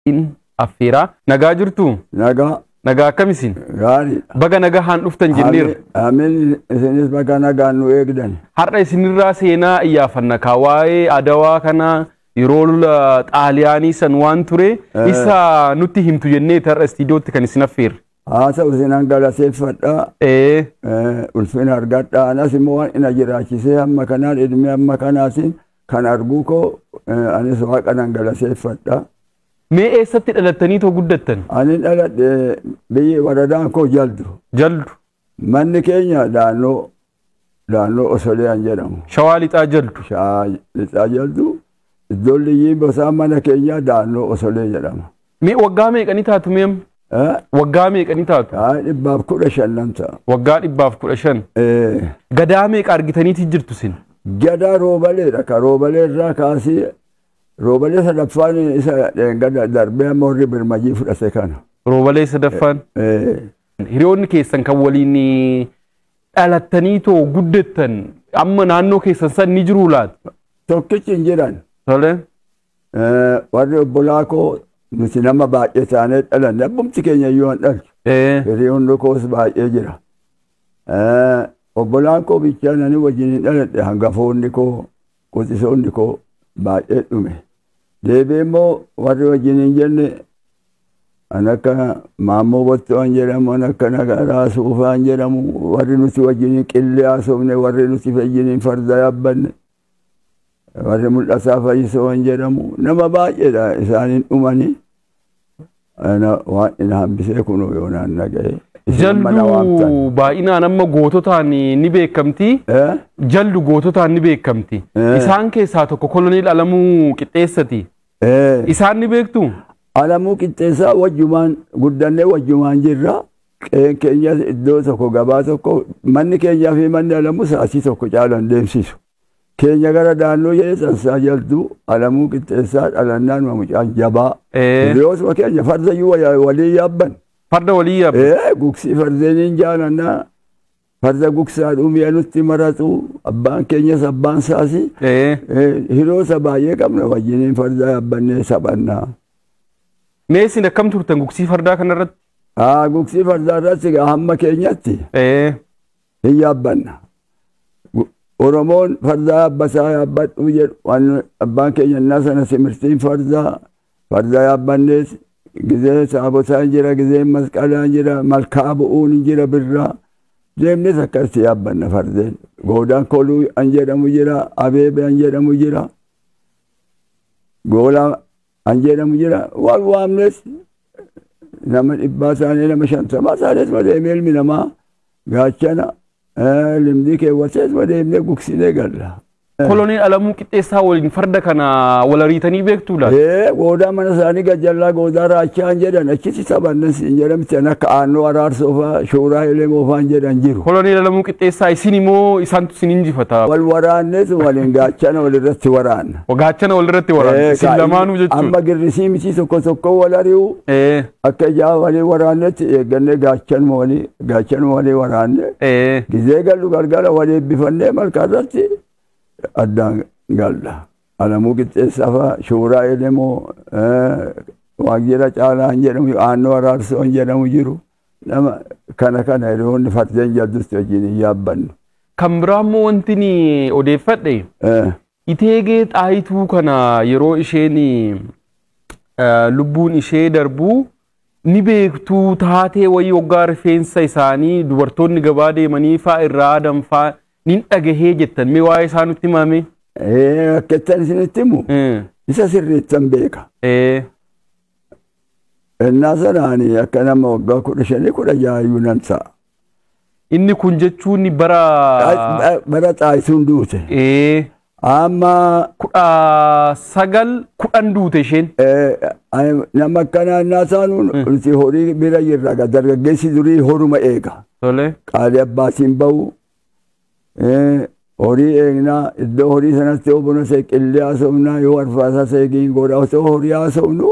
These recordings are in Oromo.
isin affeera. Nagaa jirtuu? Nagaa Nagaa akkam isin? gaarii. Baga nagahaan dhuftan jenneerra. Amin isinis bakka nagaan nu eegdan. Har'a isinirraa seenaa iyyaafanna kaa waa'ee adawaa kana yeroo lola xaaliyaanii san waan ture Eh. isa nutti himtu jennee har'a istiidiyootti kan isin affeerre. Haasa'u isinan galateeffadha. Ee, Eh, Ulfina argadha. Anas immoo waan ina jiraachisee amma kanaan ilmi amma kanaatiin Kan arguu koo eh, anis waaqa nan galateeffadha. Mee eessatti dhalattanii too guddattan? Ani dhaladhe biyyi waradaan koo jaldu. Jaldu. Manni keenya daannoo daannoo Osoliyaan jedhamu. Shawaa lixaa jaldu. Shaa lixaa jaldu iddoon liyyiin bosaan mana keenyaa daannoo Osolee jedhama. Mee waggaa meeqa ni taatu mee amma? Eh, Waggaa meeqa ni taatu? haa dhibbaaf kudha shan nan ta'a. Waggaa dhibbaaf kudha shan. Eh, Gadaa meeqa argitaniiti jirtu sin? Gadaa roobaleedha ka roobalee irraa kaasee roobalee sadaffaan isa gada darbee amma warri birmajii fudhate kana. Roobalee sadaffaan. Eh, Hiriyoonni keessan kan waliin dhalattanii too guddattan amma naannoo keessan san ni jiruu laata? Tokkichi hin jiran. Tole. Warri obbolaa koo nuti nama baay'ee taanee dhalanne abbumti keenya iyyuu hin dhaltu. Firii hundi koos baay'ee jira. Obbolaan koo bichaan ani wajjin hin dhaladhe hangafoonni koo quxisoonni koo baay'ee dhume. Deebi'ee immoo warri wajjin hin jenne an akka maammoo botto'an jedhamu an akka nagaraa suufaan jedhamu warri nuti wajjin hin qillee haasofne warri nuti wajjin hin farda yaabbanne warri mul'ataa fayyisoon jedhamu nama baay'eedha isaaniin dhumani Ana waan hin hambisee kunuu yoo naan dhaga'e isin mana waamtan Jaldu baay'inaan amma goototaan ni beekamti. Eh? Jaldu goototaan ni beekamti. Eh. Isaan keessaa tokko koloneel Alamuu Qixxeessati. Eh. Isaan ni beektu? Alamuu qixxeessaa wajjumaan guddannee wajjumaan jirra Qe'een keenyas iddoo tokko gabaa tokko manni keenyaa fi manni alamuu sa'aatii tokko caalan deemsisu. Keenya gara daannoo jedhee tansaa jalduu alamuu qixxeessaa dhalannaan mamucaan jabaa. Ee. Hiriyootuma keenya farda iyyuu waya- walii yaabban. Farda walii yaabban. Ee gugsii fardeeniin jaalannaa Farda gugsaadhuu mi'a nutti maratu abbaan keenyas abbaan saasi Ee, eh, hiroota baay'ee qabna wajjiniin farda yaabbannee taphanna. Mee isin akkam turtan gugsii fardaa kanarratti? Haa gugsii fardaa irratti egaa hamma keenyatti Ee, hin yaabbanna. Gu- Oromoon fardaa yaabbataa yaabbadhuu jedhu waan abbaan keenya innaa sana simirtiin fardaa Farda yaabbannees gizee saabosaan jira, gizeen masqalaan jira, malkaa bu'uun hin jira birraa. Deemnees akkasitti yaabbanna fardeen. Goodaan koluu an jedhamu jira, abeebe an jedhamu jira. Goolaa an jedhamu jira. Wal waamnees nama dhibbaa isaanii nama shantamaa isaaniis malee ilmi namaa gaachana Limdii keewwatees madeemnee gugsinee galla. Koloneel Alamuu Qixxeessaa waliin farda kana wal ariitanii beektuu laata? Ee goodaa mana isaanii gajjallaa goodaa raachaan jedhan achitti taphannan siin jedhamtan akka aannoo araarsoo fa'aa shuuraa elemoo fa'aan jedhan jiru. Koloneel Alamuu Qixxeessaa isin immoo isaantu isin injifata. Wal waraannees waliin gaachana walirratti waraanna. Gaachana walirratti waraanna. Ee, Isin kaa'imni- lamaanuu jechuudha. Amma girrisii mitii tokko tokko wal ari'u. Ee. Akka ijaa walii waraannetti eeggannee gaachanuma walii gaachanuma walii waraanne Ee, gizee gallu galgala walii eebbifannee malkaa irratti addaan galla. Alamuu qixxeessaa fa'a shuuraa elemoo waajjira caalaa hin jedhamu aannoo araarsoo hin jedhamu jiru. Nama kana kana hiriyoonni fardeen jaldutti wajjin hin yaabbannu. kan biraa immoo wanti ni odeeffadhe Eh, Iteegee Xaayituu kana yeroo isheen lubbuun ishee darbu ni beektuu taatee wayii waggaa rifeensa isaanii dubartoonni gabaa deemanii faa irraa aadan faa nin dhagahee jettan mee waa'ee isaa nutti himame. Akkattan isinitti himu isa sirriittan beeka. Ennaa sanaan akka nama waggaa kudha shanii kudha jahayyuu nan ta'a. Inni kun jechuun bara Bara xaayisuun duute. ee, Amma kudha sagal kudhan duute isheen. eh, ani- nama akkanaa innaa taanu nuti horii bira jirra. Egaa Dargaggeessi durii horuma eega. Tole. Qaalii abbaatiin bahu. eh, Horii eegnaa iddoo horii sanatti yoo buna seeqillee haasofnaa yoo arfaasaa seegiin godha osoo horii haasofnu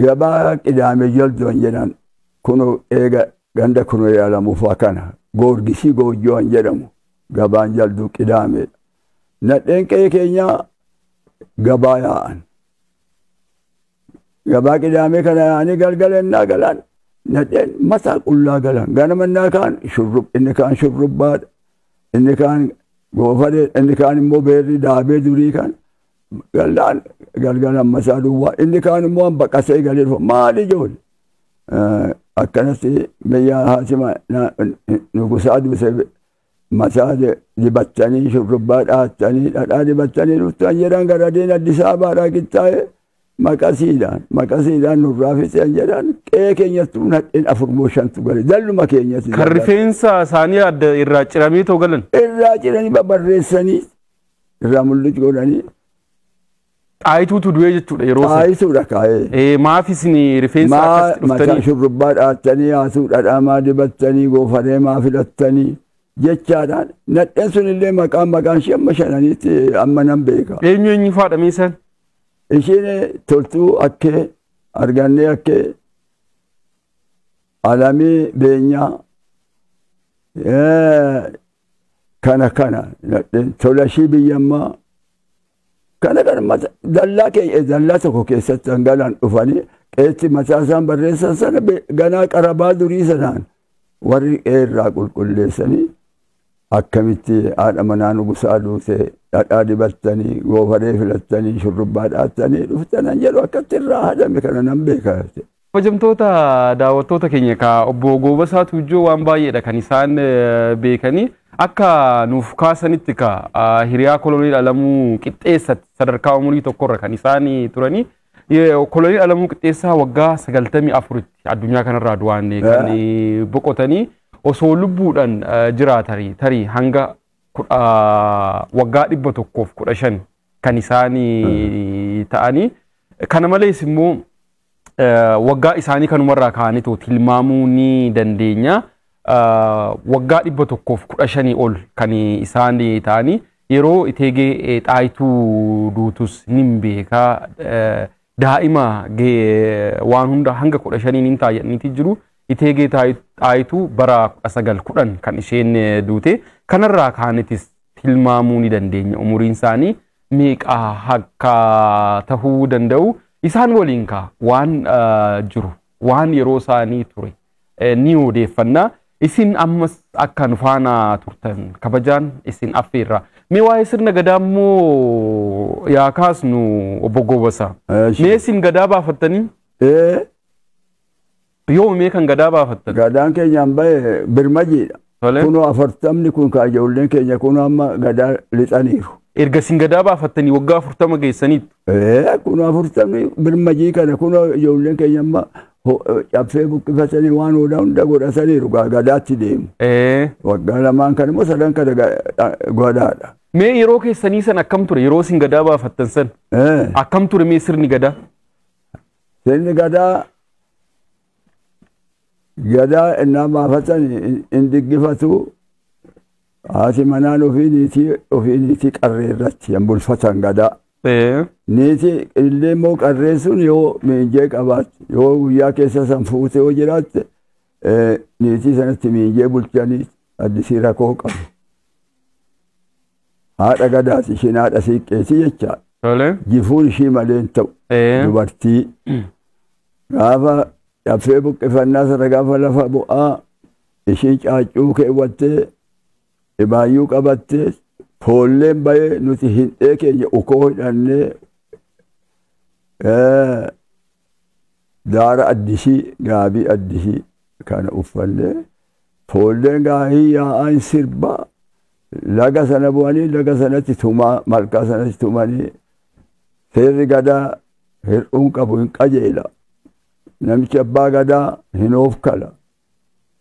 Gabaa Qidaamee Joljoon jedhan kuno eega ganda Kunoyee Alamuufaa kana Goorgisii Goojjoo an jedhamu gabaan jalduu Qidaameedha. Nadheen qe'ee keenyaa gabaa yaa'an. Gabaa Qidaamee kana yaa'anii galgala innaa galan nadheen mataa qullaa galan. Ganama innaa kaan shurrub inni kaan shurrubbaadha. Inni kaan goofareedha. Inni kaan immoo beerri daabee durii kan Gallaan galgala amma isaa duwwaa inni kaan immoo an baqasee galee dhufa maal ijoole akkanatti biyyaa haatima nugusaa duuse mataa dibattanii shurrubbaa dhaattanii dhadhaa dibattanii dhuftan jedhan garadiin Addis Ababaadhaa qixxaa'e maqasiidhaan maqasiidhaan nurraa fixeen jedhan qe'ee keenyatti nadheen afur moo shantu gale dalluma keenyatti Kan rifeensa isaanii adda irraa ciramee too galan. irraa ciranii babarreessanii irraa mul'uc godhanii Xaayituutu du'ee jechuudha yeroo sana. xaayituudha kaa'ee. Eh, Maaf isin rifeensa Maa akkasitti mataa dhuftanii? shurrubbaa dhaattanii haasuu dhadhaamaa dibattanii goofaree maa filattanii jechaadhaan nadheen sun illee maqaan maqaan ishee amma shananiitti amma nan beeka. Eenyu eenyu faadha mee isaan? Ishiin toltuu akkee argannee akkee alamii beenyaa eh, kana kana nadheen tolashii biyyammaa kana kana mata dallaa kee dallaa tokko keessatti hangalaan dhufanii qeetti mataa isaan barreessan sana be- ganaa qarabaa durii sanaan warri qee irraa qulqulleessanii akkamitti haadha manaa nugusaa duute dhadhaa dibattanii goofaree filattanii shurrubbaa dhaattanii dhuftanan jedhu akkatti irraa haadame kana nan beeka Kabajamtoota daawwattoota keenya egaa obbo Goobasaa Tuujjoo waan baay'eedha kan isaan beekanii akka nuuf kaasanitti ka hiriyaa koloneel Alamuu Qixxeessatti sadarkaa umurii tokkorra kan isaan turanii koloneel Alamuu Qixxeessaa waggaa 94tti addunyaa kanarraa du'aan kan boqotanii osoo lubbuudhaan jiraatanii tarii hanga waggaa 115 kan isaan ta'anii kana malees immoo waggaa isaanii kanumarraa kaa'anitu tilmaamuu ni dandeenya. Waggaa dhibba tokkoof kudha shanii ol kan isaan ta'anii yeroo iteegee xaayituu duutus ni beeka. Daa'ima waan hunda hanga kudha shaniin hin taa'aniiti jiru. Iteegee xaayituu bara kudha sagal kudhan kan isheen duute. Kanarraa kaanitis tilmaamuu ni dandeenya umuriin isaanii meeqa akka tahuu danda'u isaan waliin kaa waan ah, jiru waan yeroo isaanii ture eh, ni odeeffanna isin ammas akka nu faana turtan kabajaan isin affeerra mee waa'ee sirna gadaa immoo yaa kaasnu obbo Goobasa Eesh. mee isin gadaa baafattanii Ee, Yoomi mee kan gadaa baafattan? Gadaan keenyaan bahe birmajiidha. Tole. Kunoo afartamni kun kaa ijoolleen keenya kun amma gadaa lixaniiru. Erga isin gadaa baafattanii waggaa afurtama geessaniitti. Ee, kun afurtamni birmajii kana kunoo ijoolleen keenya amma ho- caffee buqqifatanii waan hunda hunda godhataniiru gaa gadaatti deemu. Ee, Waggaa lamaan kana immoo sadan kana ga- dha- gadaadha. Mee yeroo keessanii san akkam ture? Yeroo isin gadaa baafattan san Ee, akkam ture mee sirni gadaa? Sirni gadaa gadaa ennaa baafatan hin diggifatu haati manaan ofii niitii ofii niitii qarree irratti hin bulfatan gadaa. Ee. Niiti illee immoo qarree sun yoo miinjee qabaatte yoo guyyaa keessa san fuute yoo jiraatte eh, niitii sanatti miinjee bulchanii addisii rakoo qabu. Haadha gadaas ishiin haadha siiqqeeti jecha Tole. jifuun ishii malee hin ta'u. Ee. Dubartii gaafa dhaffee buqqifannaa sana gaafa lafa bu'aa ishii caaccuu keewwattee dhibaayyuu qabattee foolleen bayee nuti hindhee keenya ukoo hidhannee ee, daara addisii gaabii addisii kana uffannee foolleen gaahii yaa'aa hin sirbaa Laga sana bu'anii laga sanatti tumaa malkaa sanatti tumanii seerri gadaa hir'uun qabu hin qajeela. Namichi abbaa gadaa hin hoofkala.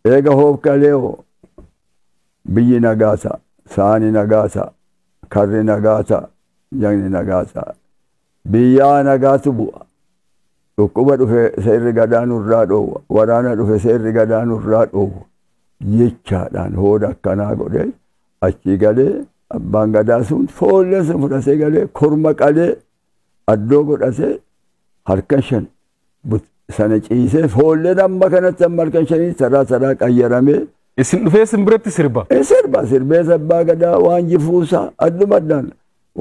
Eega hoofkalee hoo biyyi nagaasa, saani nagaasa, karri nagaasa, jagni nagaasa. Biyyaa nagaatu bu'a. Dhukkuba dhufe seerri gadaa nurraa dhoowwa. Waraana dhufe seerri gadaa nurraa dhoowwa. Jechaadhaan hooda akkanaa godhee achii galee abbaan gadaa sun foollee sun fudhatee galee korma qalee addoo godhatee harka shan But- Sana ciisee foolleen amma kanatti amma halkan shanii taraa taraa qayyaramee Isin dhufee sin biratti sirba. Eh, sirba sirbee sabbaa gadaa waan jifuusaa adduma addaan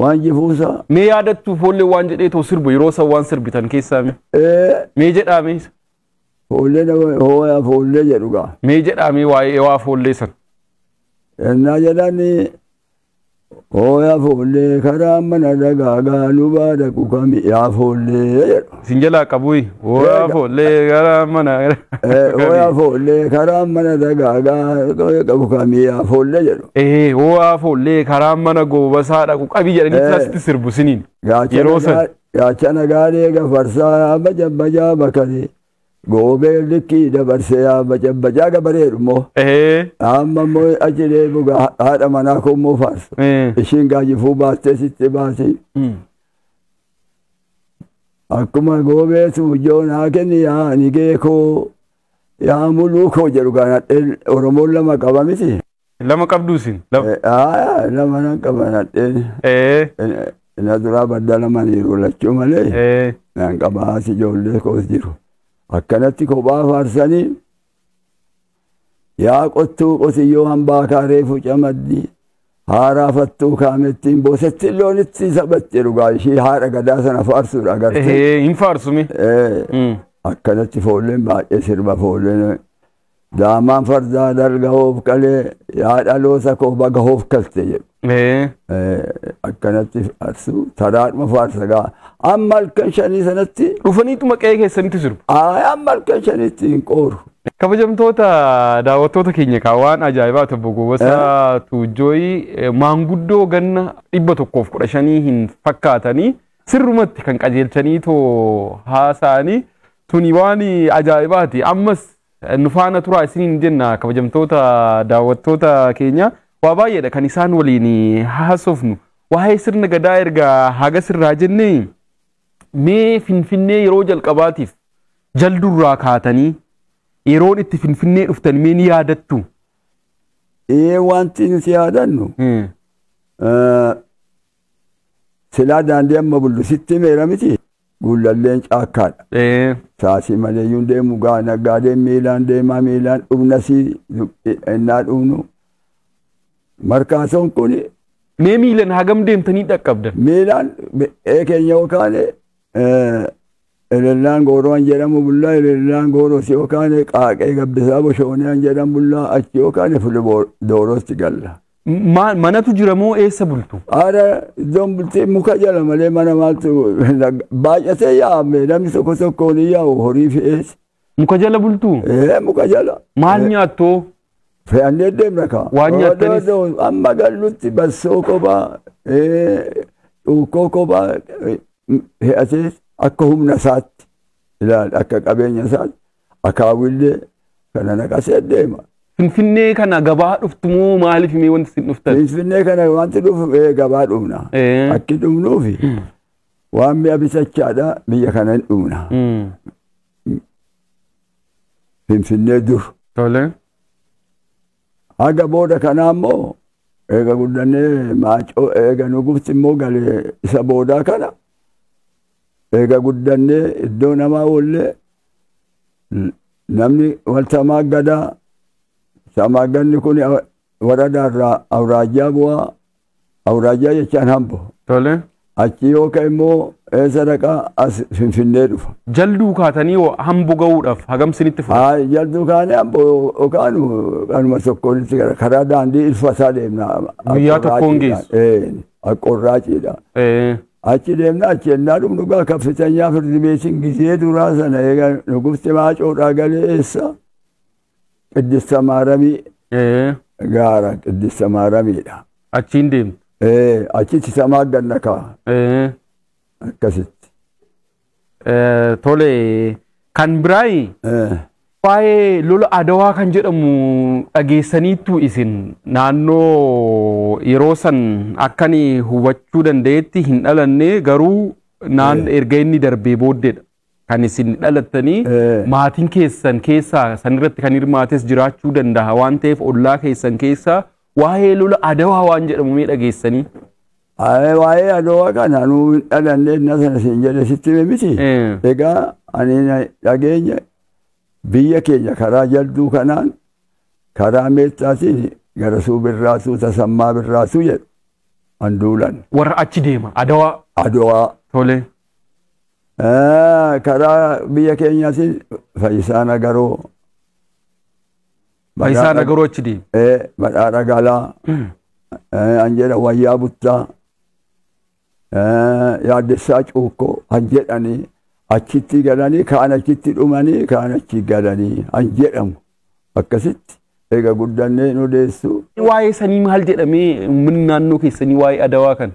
waan jifuusaa Mee yaadattu foollee waan jedhee too sirbu yeroo san waan sirbitan keessaa mee. eh, Mee jedhaa mee. foollee nama hooyaa foollee jedhu gaa Mee jedhaa mee waa'ee waa foollee san. ennaa jedhani Ooya foollee karaa mana dagaagaa nu baadaqu kami yaa foollee jedhu. Isin jalaa qabuyi. Ooya foollee karaa mana. Ooya foollee karaa mana dagaagaa qabu kami yaa foollee jedhu. Ee ooya foollee karaa mana goobasaa dhaqu qabi jedhanii kilasitti sirbu siniin. Yeroo san. Gaachana gaalee gafarsaa bajabajaa bakaree. Goobeen likkii dabarse yaa bacabbacaa gabareedhu immoo. Ehee. Amma immoo achi deebi'u gaa haadha manaa koo immoo faarsa. Eh. Ishiin gaajifuu baattee sitti baati. Mm. Akkuma goobeetu ijoo naa kenni yaa nigee koo yaa muluu koo jedhu gaa nadheen Oromoon lama qaba miti. Lama qabdu isin. Lama. Aayaa lama nan qaba nadheen. Ee. Ina duraa badda lamaniiru lachuu malee Ee. nan qaba haati ijoollee koos jiru. Akkanatti kophaa faarsanii yaa qottuu qotiyyoo hambaa kaaree fuca maddii haaraa fattuu kaamettiin boosettiin loonitti taphatte dhugaa ishii haadha gadaa sana faarsuudha agartee. Ee. Hin faarsumi. Ee, Mm. Akkanatti foolleen baay'ee sirba foolleen Daa'imman fardaa dalga hoof qalee yaa dhaloota koo baga hoof kalte jedhu. Ee, Eh, Akkanatti faarsu taraadhuma faarsa gaa. Amma halkan shanii sanatti Dhufaniituma qe'ee keessanitti sirbu. ayi amma halkan shanitti hin qooru. Kabajamtoota daawwattoota keenya kaa waan ajaa'ibaa ta'e Bogobasaa Tuujjooyi eh, maanguddoo ganna dhibba tokkoof kudha shanii hin fakkaatanii sirrumatti kan qajeelchanii too haasa'anii Tuni waan ajaa'ibaati. Ammas nu faana turaa isiniin jenna kabajamtoota daawwattoota keenya. Waa baay'eedha kan isaan waliin haasofnu. Waa'ee sirna gadaa erga haga sirraa jennee mee finfinnee yeroo jalqabaatiif jaldurraa kaatanii yeroon itti finfinnee dhuftan mee ni yaadattu. Ee wanti nuti yaadannu Silaa daandii amma bullu sitti himeera miti guullalleen caakkaadha. Ee. Saasii maleeyyuun deemu gaa naggaadeen miilaan deemaa miilaan dhumnasii nu- ennaa dhumnu markaasoon kun Mee miilan hagam deemtanii dhaqqabdan? miilaan ee keenya yookaan Elellaan gooroo an jedhamu bullaa elellaan gooroo si yookaan qaaqee gabbisaa boshoonee an jedhan bullaa achi yookaan fuliboo doorootti galla. Maal manatu jira moo eessa bultu? Aara iddoon bultii muka jala malee mana maaltu baay'atee yaa'ame namni tokko tokkoon yaa'u horii fe'ees Muka jala bultuu? Ee muka jala. Maal nyaattoo? Fe'annee deemna kaa. Waan nyaattanis. Odoo- odoo Amma gallutti bassoo kophaa, ee, cuukkoo kophaa ee, fe'atee akka humna isaatti ilaali akka qabeenya isaatti akaawillee kana naqasee deema. Finfinnee kana gabaa dhuftu moo maaliif mee wanti isin dhuftan? Finfinnee kana wanti dhufu ee gabaa dhumna. Ee. Akki dhumnuufi Waan mi'a bitachaadha biyya kana hin dhumna. Finfinnee dur. Tole. Haga booda kanaa immoo eega guddannee maacoo eega nu gubti immoo galee isa boodaa kana eega guddannee iddoo namaa oollee namni wal tamaa gadaa tamaa ganni kun Waradaa irraa awraajjaa bu'a. Awraajjaa jechaan hambo. Tole. Achii yoo ka'e immoo eessa dhaqa as Finfinnee dhufa. Jalduu kaatanii hoo hambo ga'uudhaaf hagam sinitti fudhata? Ay, jalduu kaanee hambo yoo kaanu kanuma tokkoon itti gara karaa daandii ilfataa deemna. Guyyaa tokkoon geessu. Ee, Aqqorraaciidha. Ee, Achi deemna achi ennaa dhum dhugaa kaffitanyaa firdi beetiin gizee duraa sana eega nugufti maacoodhaa galee eessa Qiddissa Maaramii Ee, gaara Qiddissa Maaramiidha. achiin deemtu. Ee, achitti samaa ganna kaa Ee, akkasitti. ee, tole kan biraayi Ee, waa'ee lola adawaa kan jedhamu dhageessaniittu isin naannoo yeroo san akkani hubachuu danda'etti hin dhalanne garuu naan erga inni darbee booddeedha. kan isin dhalattanii maatiin keessan keessaa san irratti kan hirmaates jiraachuu danda'a waan ta'eef ollaa keessan keessaa waa'ee lola adawaa waan jedhamu mee dhageessanii. Aye, Waa'ee adawaa kana nuu hin dhalanne inna sana siin jedhe sitti hime miti. Eh. Egaa ani na dhageenya biyya keenya karaa jalduu kanaan karaa meettaatiin gara suu birraatuu tasammaa birraatuu jedhu an duulan Warra achi deema adawaa adawaa tole. Karaa biyya keenyaatiin Fayisaa Nagaroo. Fayisaa Nagaroo achi deemu. Badhaadha Galaa. An jedha Wayyaa Buttaa. Yaaddessaa Cuukkoo an jedhanii achitti galanii kaan achitti dhumanii kaan achi galanii an jedhamu akkasitti eega guddannee nu deessu. Waa'ee sanii maal jedhamee uummanni naannoo keessanii waa'ee adawaa kana?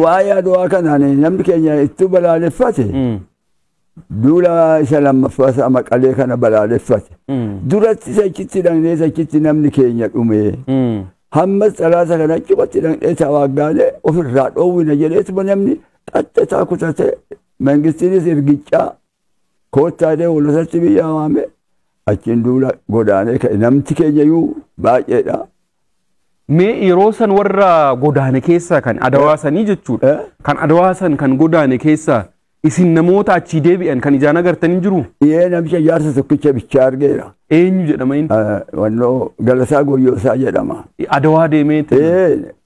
Waa'ee adwaa kanaan namni keenya ittuu balaaleffate Mm. duula isa lammaffaa isaa maqalee kana balaaleffate. Mm. Duratti isa achitti dhaqnee isa achitti namni keenya dhumee. Mm. hammas xalaata kana achumatti dhaqnee tawaaggaanee ofirraa dhoowwina jedheetuma namni qaxxataa kutatee mangistiinis ergichaa Koottaa deemu lasatti biyyaa waamee achiin duula godaanee ka'e namti keenyayyuu baay'eedha. Mee yeroo san warra godaane keessaa kan adawaa sanii jechuudha. Eh? Kan adawaa san kan godaane keessaa isin namoota achii deebi'an kan ijaan agartan hin jiru? Dhiyee namicha jaarsa tokkicha bichaa argeera. Eenyu jedhama inni? Eh, Wannoo Galasaa Goyyoosaa jedhama. Adawaa deemee Ee,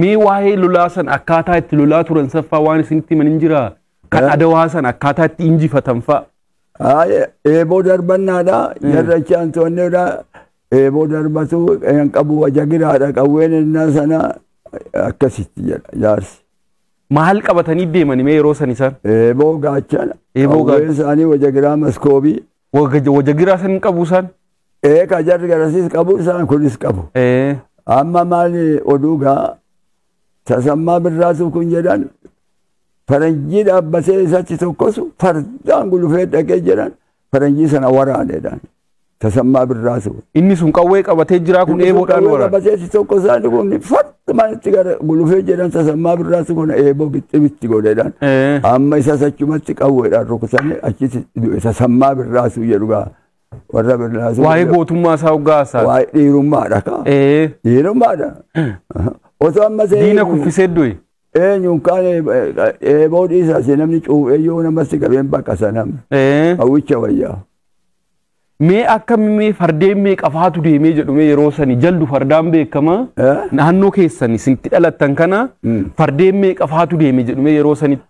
Mee waa'ee lolaa san akkaataa itti lolaa turan saffaa waan isinitti himan hin jiraa? Kan Eh. adawaa san akkaataa itti injifatan fa'a. Haaya, eeboo darbannaadha. Jarra achi aantoonneedha. Eeboo darbatu kan qabu wajagiraadha. Qawween innaa sana akkasitti jedha jaarsi. Maal qabatanii deemani mee yeroo san isaan? Eeboo gaachana. Eeboo gaachana. Qawween isaanii wajagiraa maskoobii. Wajagiraa san hin qabu isaan. Ee ka jarri garasiis qabu isaan kunis qabu. Ee. Amma maali oduu gaa tasammaa birraasuu kun jedhan faranjii dhaabbatee isatti tokkosu fardaan gulufee dhaqee jedhan faranjii sana waraanedhaan tasammaa birraasuu. Inni sun qawwee qabatee jiraa kun eeboodhaan waraana. Qabatee tokko isaanii kun fardaan Dhumaan itti gara gulufee jedhan tasammaa birraatti kun eeboo gixxim itti godhedhaan. Eh. Amma isas achumatti qawweedhaan rukutamee achitti du'e tasammaa birraasuu jedhu gaa warra birraasuu. Waa'ee gootummaa isaa hoggaa haasaa. Waa'ee dhiirummaadha kaa. Eh. Dhiirummaadha. Osoo amma seenu. Diina kuffisee du'e. Eenyuun kaan eeboo dhiisaas namni cuuphee yoo namatti qabeen bakka sanam. Eh. Hawwicha wayyaa. Mee akka mee fardeen mee qafaatu deemee jedhu mee yeroo sani jaldu fardaan beekama naannoo keessan isin itti dhalattan kana fardeen mee qafaatu deeme jedhu mee yeroo sanitti.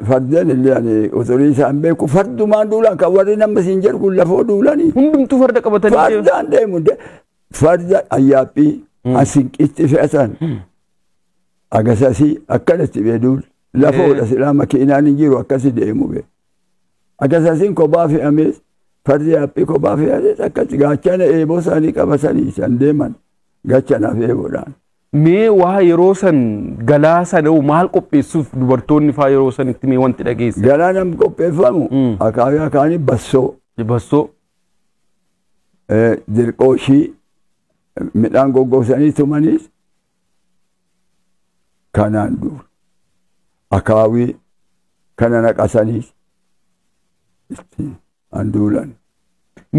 Fardeen illee ani uturii isaan beeku fardumaan duulaan kan warri nama siin jedhu kun lafoo duulanii. Hundumtuu farda qabatanii deemu. Fardaan deemu farda ayyaaphii asinqitti fe'atan agasasii akkanatti beeduun lafoodha silaa makiinaan hin jiru akkasi deemu beeku. Akasasiin kophaa fe'amees fardi haphii kophaa fe'amees akkatti gaachana eeboo isaanii qabatanii san deeman gachanaaf eeboodhaan. Mee waa yeroo san galaa sana hoo maal qopheessuuf dubartoonni faa yeroo sanitti mee wanti dhageesse? Galaa nam qopheeffamu Mm. akaakii akaanii bassoo Bassoo. eh, dirqooshii midhaan goggogsanii tumaniis Kanaan dura akaawii kana naqasaniis itti handuulan.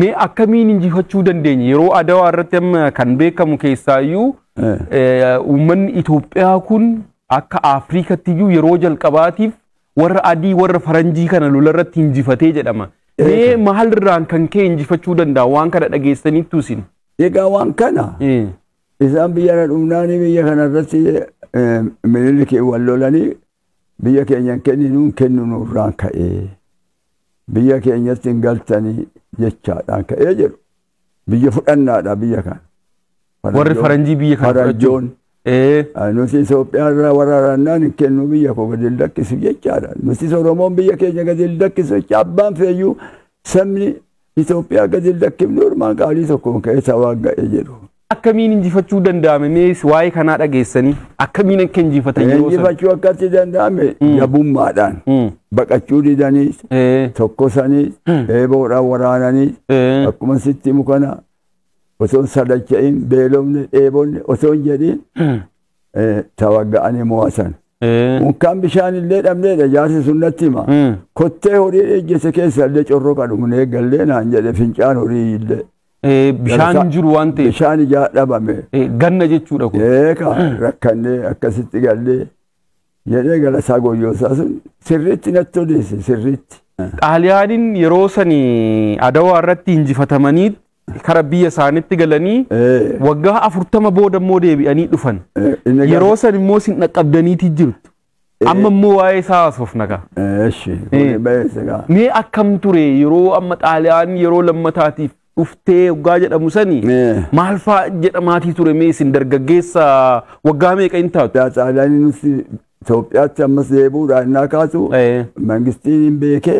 Mee akkamiin injifachuu dandeenye yeroo adawaa irratti amma kan beekamu keessaayyuu uummanni Itoophiyaa kun akka Afriikatti iyyuu yeroo jalqabaatiif warra adii warra faranjii kana lola irratti injifatee jedhama. Mee maalirraan kan ka'e injifachuu danda'a waan kana dhageessaniittu isin? Egaa waan kana Isaan biyyarra dhumnaanii biyya kanarratti miniliki wal lolanii biyya keenya hin kenninuun kennu nurraan ka'ee biyya keenyatti hin galtanii jechaadhaan ka'ee jedhu. Biyya fudhannaadha biyya kana. Warri faranjii biyya kana fudhachuun. Faranjoon nuti Itoophiyaa irraa waraarannaan hin kennu biyya koo gadi hin lakkisu jechaadha. Nutis Oromoon biyya keenya gadi hin lakkisu jecha abbaan feeyyuu sabni Itoophiyaa gadi hin lakkifne ormaa gaarii tokkoon keessa waan ga'e jedhu. Akkamiin injifachuu danda'ame mee waa'ee kanaa dhageessanii akkamiin akka injifatan yeroo sana. Injifachuu akkatti danda'ame jabummaadhaan Mm. baqachuu didaniis Eh, tokkosaniis eeboodhaan waraananiis eh, akkuma sitti himu kana osoo hin sadacha'in beelofne dheebonne osoo hin jedhin eh, tawagga'anii mo'atan. Eh, Unkaan bishaan illee dhabneedha jaarsi sun natti hima. Mm. Kottee horii ejjete keessa illee corroqa dhugnee gallee naan jedhe fincaan horii illee. eh, bishaan hin jiru waan ta'eef Bishaan ijaa dhabame. eh, ganna jechuudha kun. Eeka rakkannee akkasitti gallee jedhee galasaa goyyoosaa sun sirriitti natti odeesse sirriitti. Xaaliyaaniin yeroo sani adawaa irratti injifatamanii kara biyya isaanitti galanii Eh, waggaa afurtama booda immoo deebi'anii dhufan. eh, inni gaafa- Yeroo san immoo isin dhaqqabdaniiti jirtu. Amma immoo waa'ee isaa haasofna kaa. Eh, Eshi, Eh. kuni beessa gaa. Mee akkam ture yeroo amma xaaliyaan yeroo lammataatiif dhuftee waggaa jedhamu sani Eh. maal faa jedhamaatii ture mee isin dargaggeessa waggaa meeqa hin taatu? Daa Xaaliyaanii nuti Itoophiyaatti ammas deebi'uudhaan innaa kaasu Eh. mangistiin hin beekee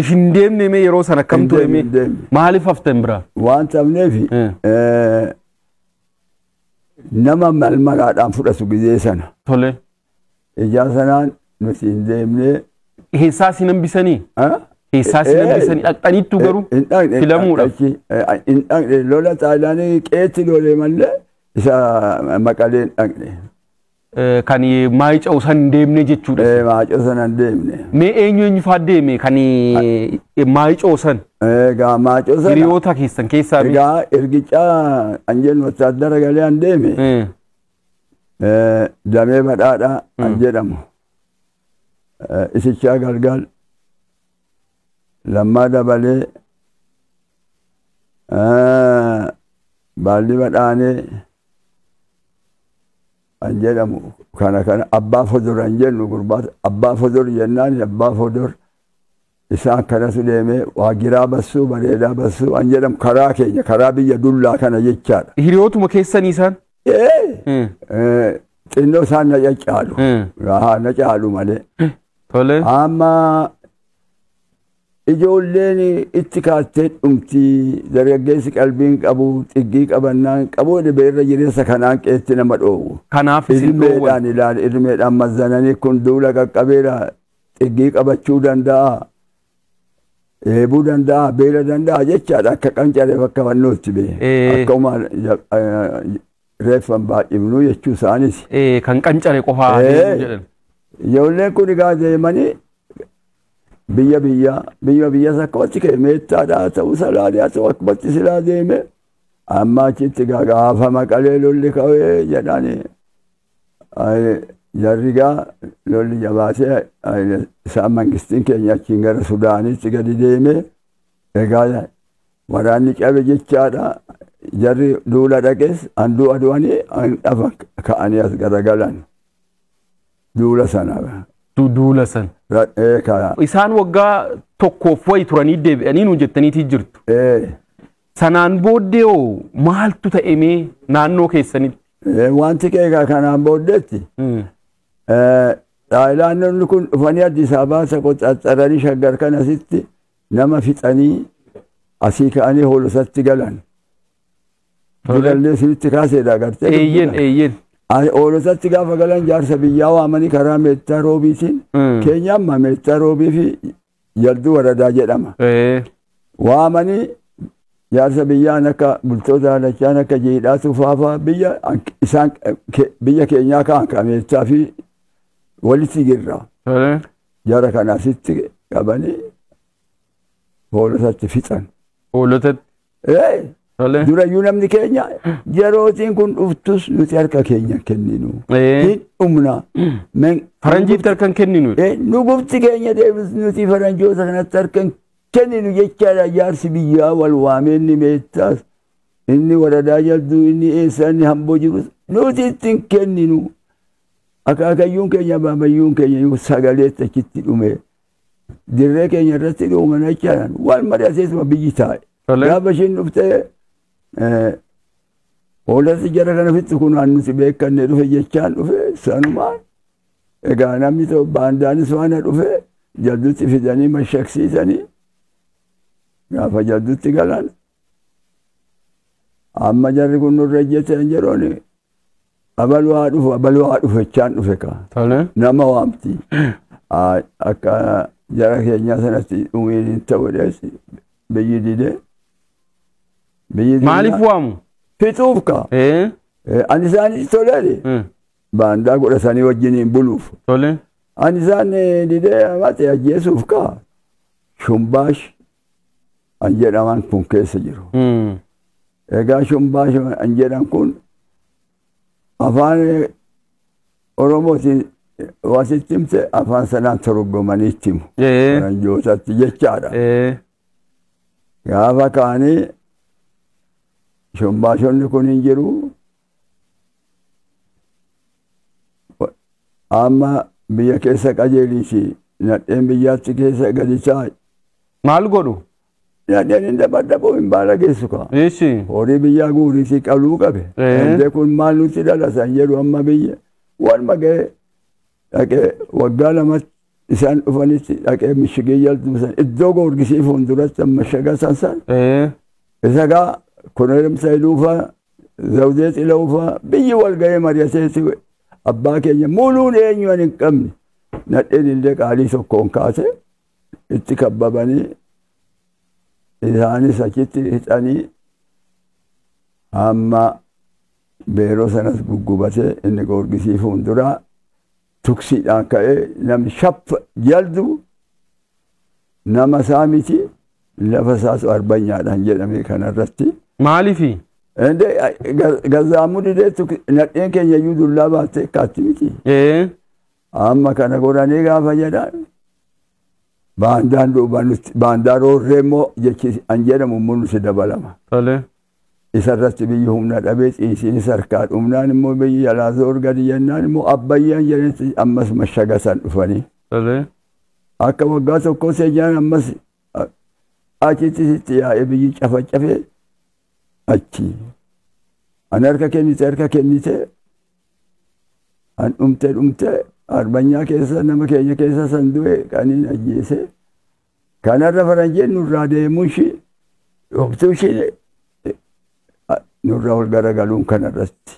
If hin deemne mee yeroo sana akkam Hin ture deemne, mee hin deemne. maaliif haftan biraa? Waan cabneef Eh. eh, nama mal maraadhaan fudhatu gizee sana. Tole. Ijaa sanaan nuti hin deemnee. Keessaa si hambisanii? ah, Keessaa si Eh, eh. hambisanii dhaqxaniittu garuu hin dhaqne filamuudha. achi, eh, hin dhaqne lola xaalaanii qeetti lolee malee isa maqalee hin dhaqne. Eh, Kan maayica'u san hin deemne jechuudha. Eh, maacoo sana hin deemne. Mee eenyu eenyu fa'aa deeme kan maayica'u san Egaa maacoo sana hiriyoota keessan keessaa mee? egaa ergichaa anjeen wattaaddara galee an deeme Eh, eh, damee badhaadhaa an jedhamu. Eh, Isichaa galgal lammaa dabalee eh, baalli badhaanee an jedhamu kana kana abbaa fodor an jennu gurbaa abbaa fodor jennaan abbaa fodor isaa akkanatu deemee waa giraa bassuu bareedaa bassuu an jedhamu karaa keenya karaa biyya dullaa kana jechaadha. Hiriyootuma keessanii isaan? Ee, Mm. eh, xinnoo isaan na caccaalu Mm. Haa, na caalu malee Tole. amma Ijoolleen itti kaattee dhumti, dargaggeessi qalbiin qabu, xiggii qabannaan qaboo dhibe irra jireessa kanaan qeetti nama dhoowwu. Kanaaf isin dhoowwan. Irmeedhaan ilaali, irmeedhaan mazzananii kun duula qaqqabeera, xiggii qabachuu danda'a, dheebuu danda'a, beela danda'a jechaadha akka qancareef akka fannootti bee. Ee. Akka umaan ja- eh, reeffan baay'ifnu jechuu isaaniiti. Ee, kan qancare qofaa Ee. deemu jedhan. Ijoolleen kun egaa deemanii biyya biyya biyya biyya sakkootti ka'e meettaadhaa ta'uu salaadee haa ta'u akkumatti silaa deeme amma achitti gaafa maqalee lolli ka'ee jedhani jarrigaa lolli jabaatee isaan mangistiin keenya achiin gara sudaanitti gadi deeme egaa waraanni cabe jechaadha jarri duula dhaqes handuu aduwanii dhafa ka'anii as garagalan. Duula sana. Du- Duula san. Ra- ee, ka- Isaan waggaa tokkoof wayi turanii deebi'anii nuun jettaniitii jirtu. ee, Sanaan booddee hoo maaltu ta'emee naannoo keessanitti? ee, Wanti keekaa kanaan booddeetti Mm. ee, Taayilaanonni kun dhufanii Addis Ababaa isa qoxxaxxaranii shaggar kan asitti nama fixanii asii ka'anii hoolotatti galan. Dulallee sinitti kaaseedha agartee. Eeyyen eeyyen. Ani oolotatti gaafa galan jaarsa biyyaa waamanii karaa meettaa roobiitiin Mm. keenyaan ma meettaa roobii fi yarduu waradaa jedhama. Ee. Waamanii jaarsa biyyaan akka bultoota haalachaan akka jiidhaa tufaafaa biyya an- isaan ke- biyya keenyaa kaan ka meettaa fi walitti girra. Tole. Jara kana asitti qabanii hoolotatti fixan. Oolotatti. Ee, Tolee. Durayyuu namni keenya yerootiin kun dhuftus nuti harka keenya hin kenninu. Ee. Hin dhumna. Men- Faranjiitti harka hin kenninu. Ee, Nu gufti keenya deebis nuti faranjoota kanatti harka hin kenninu jechaadha jaarsi biyyaa wal waamee inni meettaas inni waradaa jalduu inni eessaa inni hamboo jirus nuti itti hin kenninu. Akaakayyuun keenya baamayyuun keenya yoo sagaleetti achitti dhume dirree keenya irratti dhuumanachaan waan mari'ateetuma biyyi taa'e. Tole. Gaafa ishiin dhuftee eh, hoolatti jara kana fitti kun waan nuti beekanne dhufe jechaan dhufe sanumaan egaa namni tokko baandaanis waan dhufe jaddutti fidanii mashaksiisanii gaafa jaddutti galan Amma jarri kun nurra ejjetan jedhuun abaluu haa dhufu abaluu haa dhufu jechaan dhufe kaa. Tole. Nama waamti. Aa, Akka jara keenyaa sanatti dhumiin hin ta'u jedhees biyyi dide. Biyyi dide. Maaliif waamu? Fixuuf kaa. Ee. Eh, Ani isaanitti toleedhe. eh, Baandaa godhatanii wajjiniin buluuf. Tole. Ani isaan eh, didee amate ajjeesuuf kaa. Shumbaash an jedhaman kun keessa jiru. Mm. Egaa shumbaa shum- an jedhan kun afaan eh, Oromootiin wasitti himte afaan sanaan torgomanii itti himu. Ee. Faranjootatti jechaadha. Ee. Gaafa kaanii shumbaashonni kun hin jiru. Amma biyya keessa qajeeliiti. Nadheen biyyaatti keessa gadi taa'i. Maal godhu? Nadheen hin dabadhabu hin baalageessu kaa. Eessi. Horii biyyaa guuriitii qaluu qabe. Ee. Eebbee kun maal nutti dhalatan jedhu amma biyya. Waluma ga'ee dhaqee waggaa lamatti isaan dhufanitti dhaqee mishigee jala duusan iddoo goorgisii fuulduratti amma shagasan san Ee. isa gaa kunoyem sayiduufaa zawdee xilawufaa biyyi wal ga'ee mari'ateeti abbaa keenya muluun eenyu ani hin qabne nadheen illee qaalii tokkoon kaate itti kabbabanii isaanis achitti hixanii amma beeroo sanas guggubatee inni goorgisii fuulduraa tuksiidhaan ka'ee namni shaffa jaldu nama isaa miti lafa isaas arbanyaadhaan jedhame kanarratti. Maaliifi? Ende gazaamuu didee tuk- nadheen keenya iyyuu dullaa baattee kaatti miti. Ee. Amma kana godhanii gaafa jedhan baandaan duuba nutti baandaa roorree immoo jechi an jedhamu immoo nutti dabalama. Tole. Isa irratti biyyi humna dhabee ciisiinis harkaa dhumnaan immoo biyyi jalaa zoor gadi jennaan immoo abbayyaan jedhanitti ammas mashaga san dhufanii. Tolee. Akka waggaa tokkoo seenyaan ammas achitti sitti yaa'ee biyyi cafacafee achi. An harka kennite harka kennite an dhumte dhumte arbanyaa keessa nama keenya keessa san du'e kaniin ajjeese Kanarra faranjiin nurraa deemuunshi dhoktuushi nurra ol garagaluun kanarratti.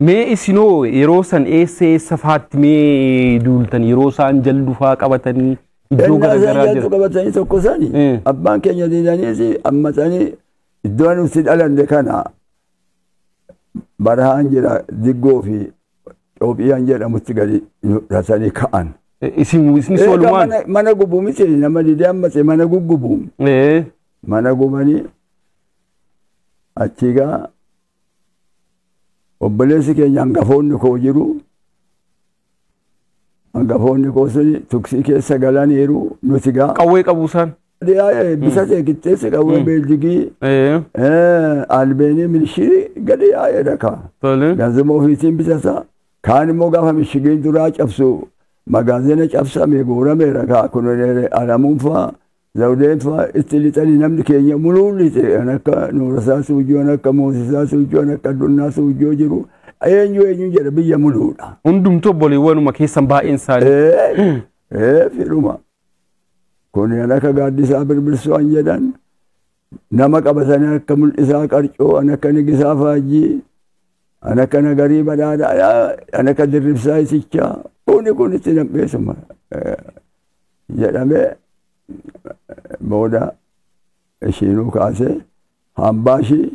Mee isinoo yeroo san eessa eessa faatti mee duultan yeroo isaan jaldu faa qabatanii iddoo Ennaa isaan garagaraa jaltu jira. qabatanii tokko sani Mm. abbaan keenya diidaniiti ammatanii iddoo nuti dhalanne kana barahaan jira diggoo fi Xoophiyaan jedhamutti gadi nu dhatanii ka'an. Eh, Isin isni Eega soolumaan. mana- Mana gubu miti nama didee ammas mana guggubu. Eh, Mana gubanii achii gaa obboleessi keenya hangafoonni koo jiru. Hangafoonni koo suni tuksii keessa galaniiru nuti gaa. Qawwee qabu isaan. Gadiyaa bisa see qixxeessi qawwee beeljigii albeenii milishirii gadiyaa jedha kaa. Tole. Gaazexaa ofiisiin bitata. Kaan immoo gaafa mishigeen duraa cabsu magaazina cabsame guurameera kaa kun alamuun faa zawdeen faa itti lixanii namni keenya muluun lixee kan akka nuurasaa suujjoo kan akka moosisaa suujjoo kan akka addunnaa suujjoo jiru eenyu eenyu jedha biyya muluudha. Hundumtuu obboleewwanuma keessan baay'een isaanii. Ee ee fidhuma. Kun an akka gaaddisaa birbirsu an jedhan nama qabatanii akka mul'isaa qarcoo an akka nigisaa faajjii an akka nagarii badhaadhaa an akka dirribsaa itichaa kuni kun itti nam'eessuma jedhamee booda ishiinuu kaasee hambaa ishii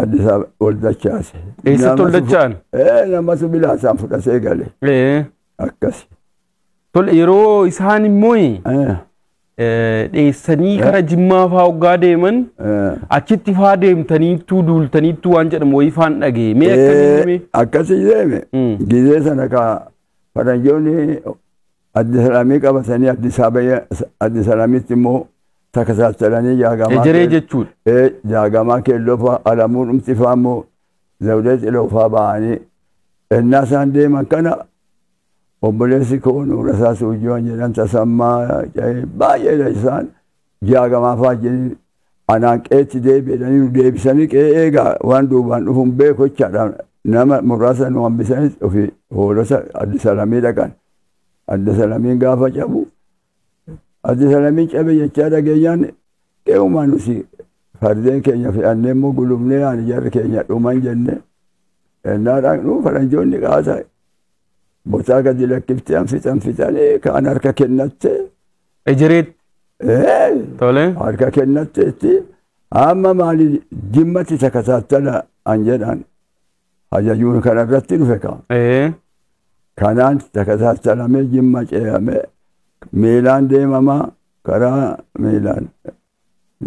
Addis Ababa ol dachaase. Eessatti ol dacha'an? Ee namatu bilaasaan fudhatee gale. Ee. Akkasi. Tole yeroo isaan immoo Eh, dheessanii gara jimmaa faa hoggaa deeman eh. achitti faa deemtaniittuu duultaniittuu waan jedhamu wayii faan dhagee mee akkamiin Eh, himee? akkasi deeme Mm. gizee sana ka faranjoonni addisalaamii qabatanii addisaabaya addisalaamitti immoo takasaachalanii jaagamaa ejeree kee- jechuudha. Eh, jaagamaa keelloo faa alamuu dhumti faa immoo Zawudee Ciloofaa ba'anii ennaa isaan deeman kana obboleessi koo Nuurasaa Suujjiwan jedhan Tasammaa Ca'ee baay'eedha isaan jaagamaa faajjiniin anaan qeetti deebi'edhanii nu deebisanii qe'ee eegaa waan duubaan dhufuun beeku jechaadha nama muraasa nu hambisanis ofii hoolota Addis Alamii dhaqan. Addis Alamiin gaafa cabu Addis Alamiin cabe jechaa dhageenyaan eegumaa nuti fardeen keenya fe'annee immoo gulumnee ani jarri keenya dhuman jenne ennaa dhaqnu faranjoonni qaata botaa gadi lakkiftee an fixan fixanii kaan harka kennatte Ejiriitti. ee, Tole. harka kennatte itti amma maali jimmatti takataattala an jedhan Hajajuun kana irratti dhufe kaa. Ee. Kanaan takasaasalamee jimma ceeyamee miilaan deemamaa karaa miilaan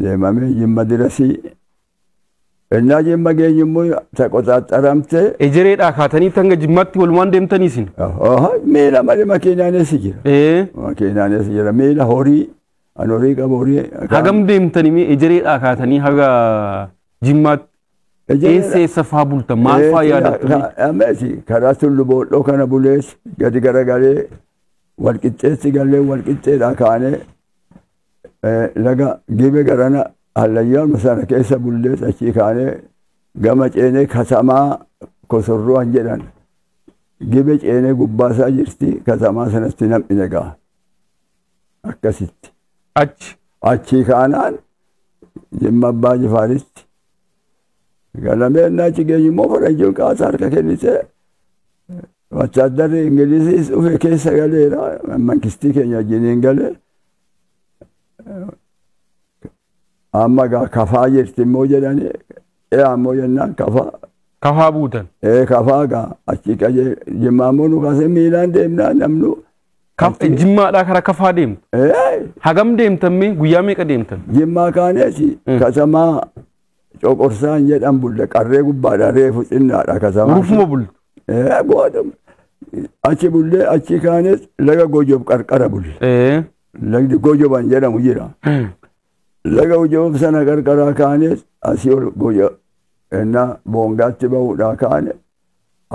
deemamee jimma dirasii. Innaa jimma geenyu immoo taqoxaaxaramtee Ejereedhaa kaatanii hanga jimmaatti walumaan deemtanii isin. Oho, miila malee makiinaanis jira. Ee. Makiinaanis jira. Miila horii, an horii qabu horii. Hagam deemtanii mee ejereedhaa kaatanii haga jimmaatti. Eessa eessa faa bulta maal faa yaadattu? Ammeesi karaa tullu boodhoo kana bulees gadi garagalee wal qixxeessi gallee wal qixxeedhaa kaanee laga gibe garana hallayyaama sana keessa bullees achii kaanee gama ceenee katamaa kosorruwaan jedhan gibe ceenee gubbaasaa jirti katamaa sanatti nam'ine ga'a. akkasitti achi achii kaanaan jimma abbaa jifaaritti galamee innaa achi geenyu immoo faranjiin kaasa harka kennitee wattaaddarri ingiliziis dhufe keessa galeera mankistii keenya wajjiniin galee amma gaa kafaa jirti immoo jedhanii ee ammoo jennaan kafa Kafaa buutan. ee kafaa gaa achi qaje jimmaa ammoo nu kaasee miilaan deemnaa namnu Kaf- achi- Jimmaadhaa karaa kafaa deemtu. ee Hagam deemtan mee guyyaa meeqa deemtan? jimmaa kaaneeti Mm. kasamaa coqorsaan jedhan bulle qarree gubbaadha reefu xinnaadha kasamaa Urufuma bultu. ee booda achi bullee achi kaanees laga gojob qarqara bulle Ee. lagdi gojoban jedhamu jira Laga Ujoom sana qarqaraa kaanees asii ol boja ennaa boongaatti ba'uudhaa kaane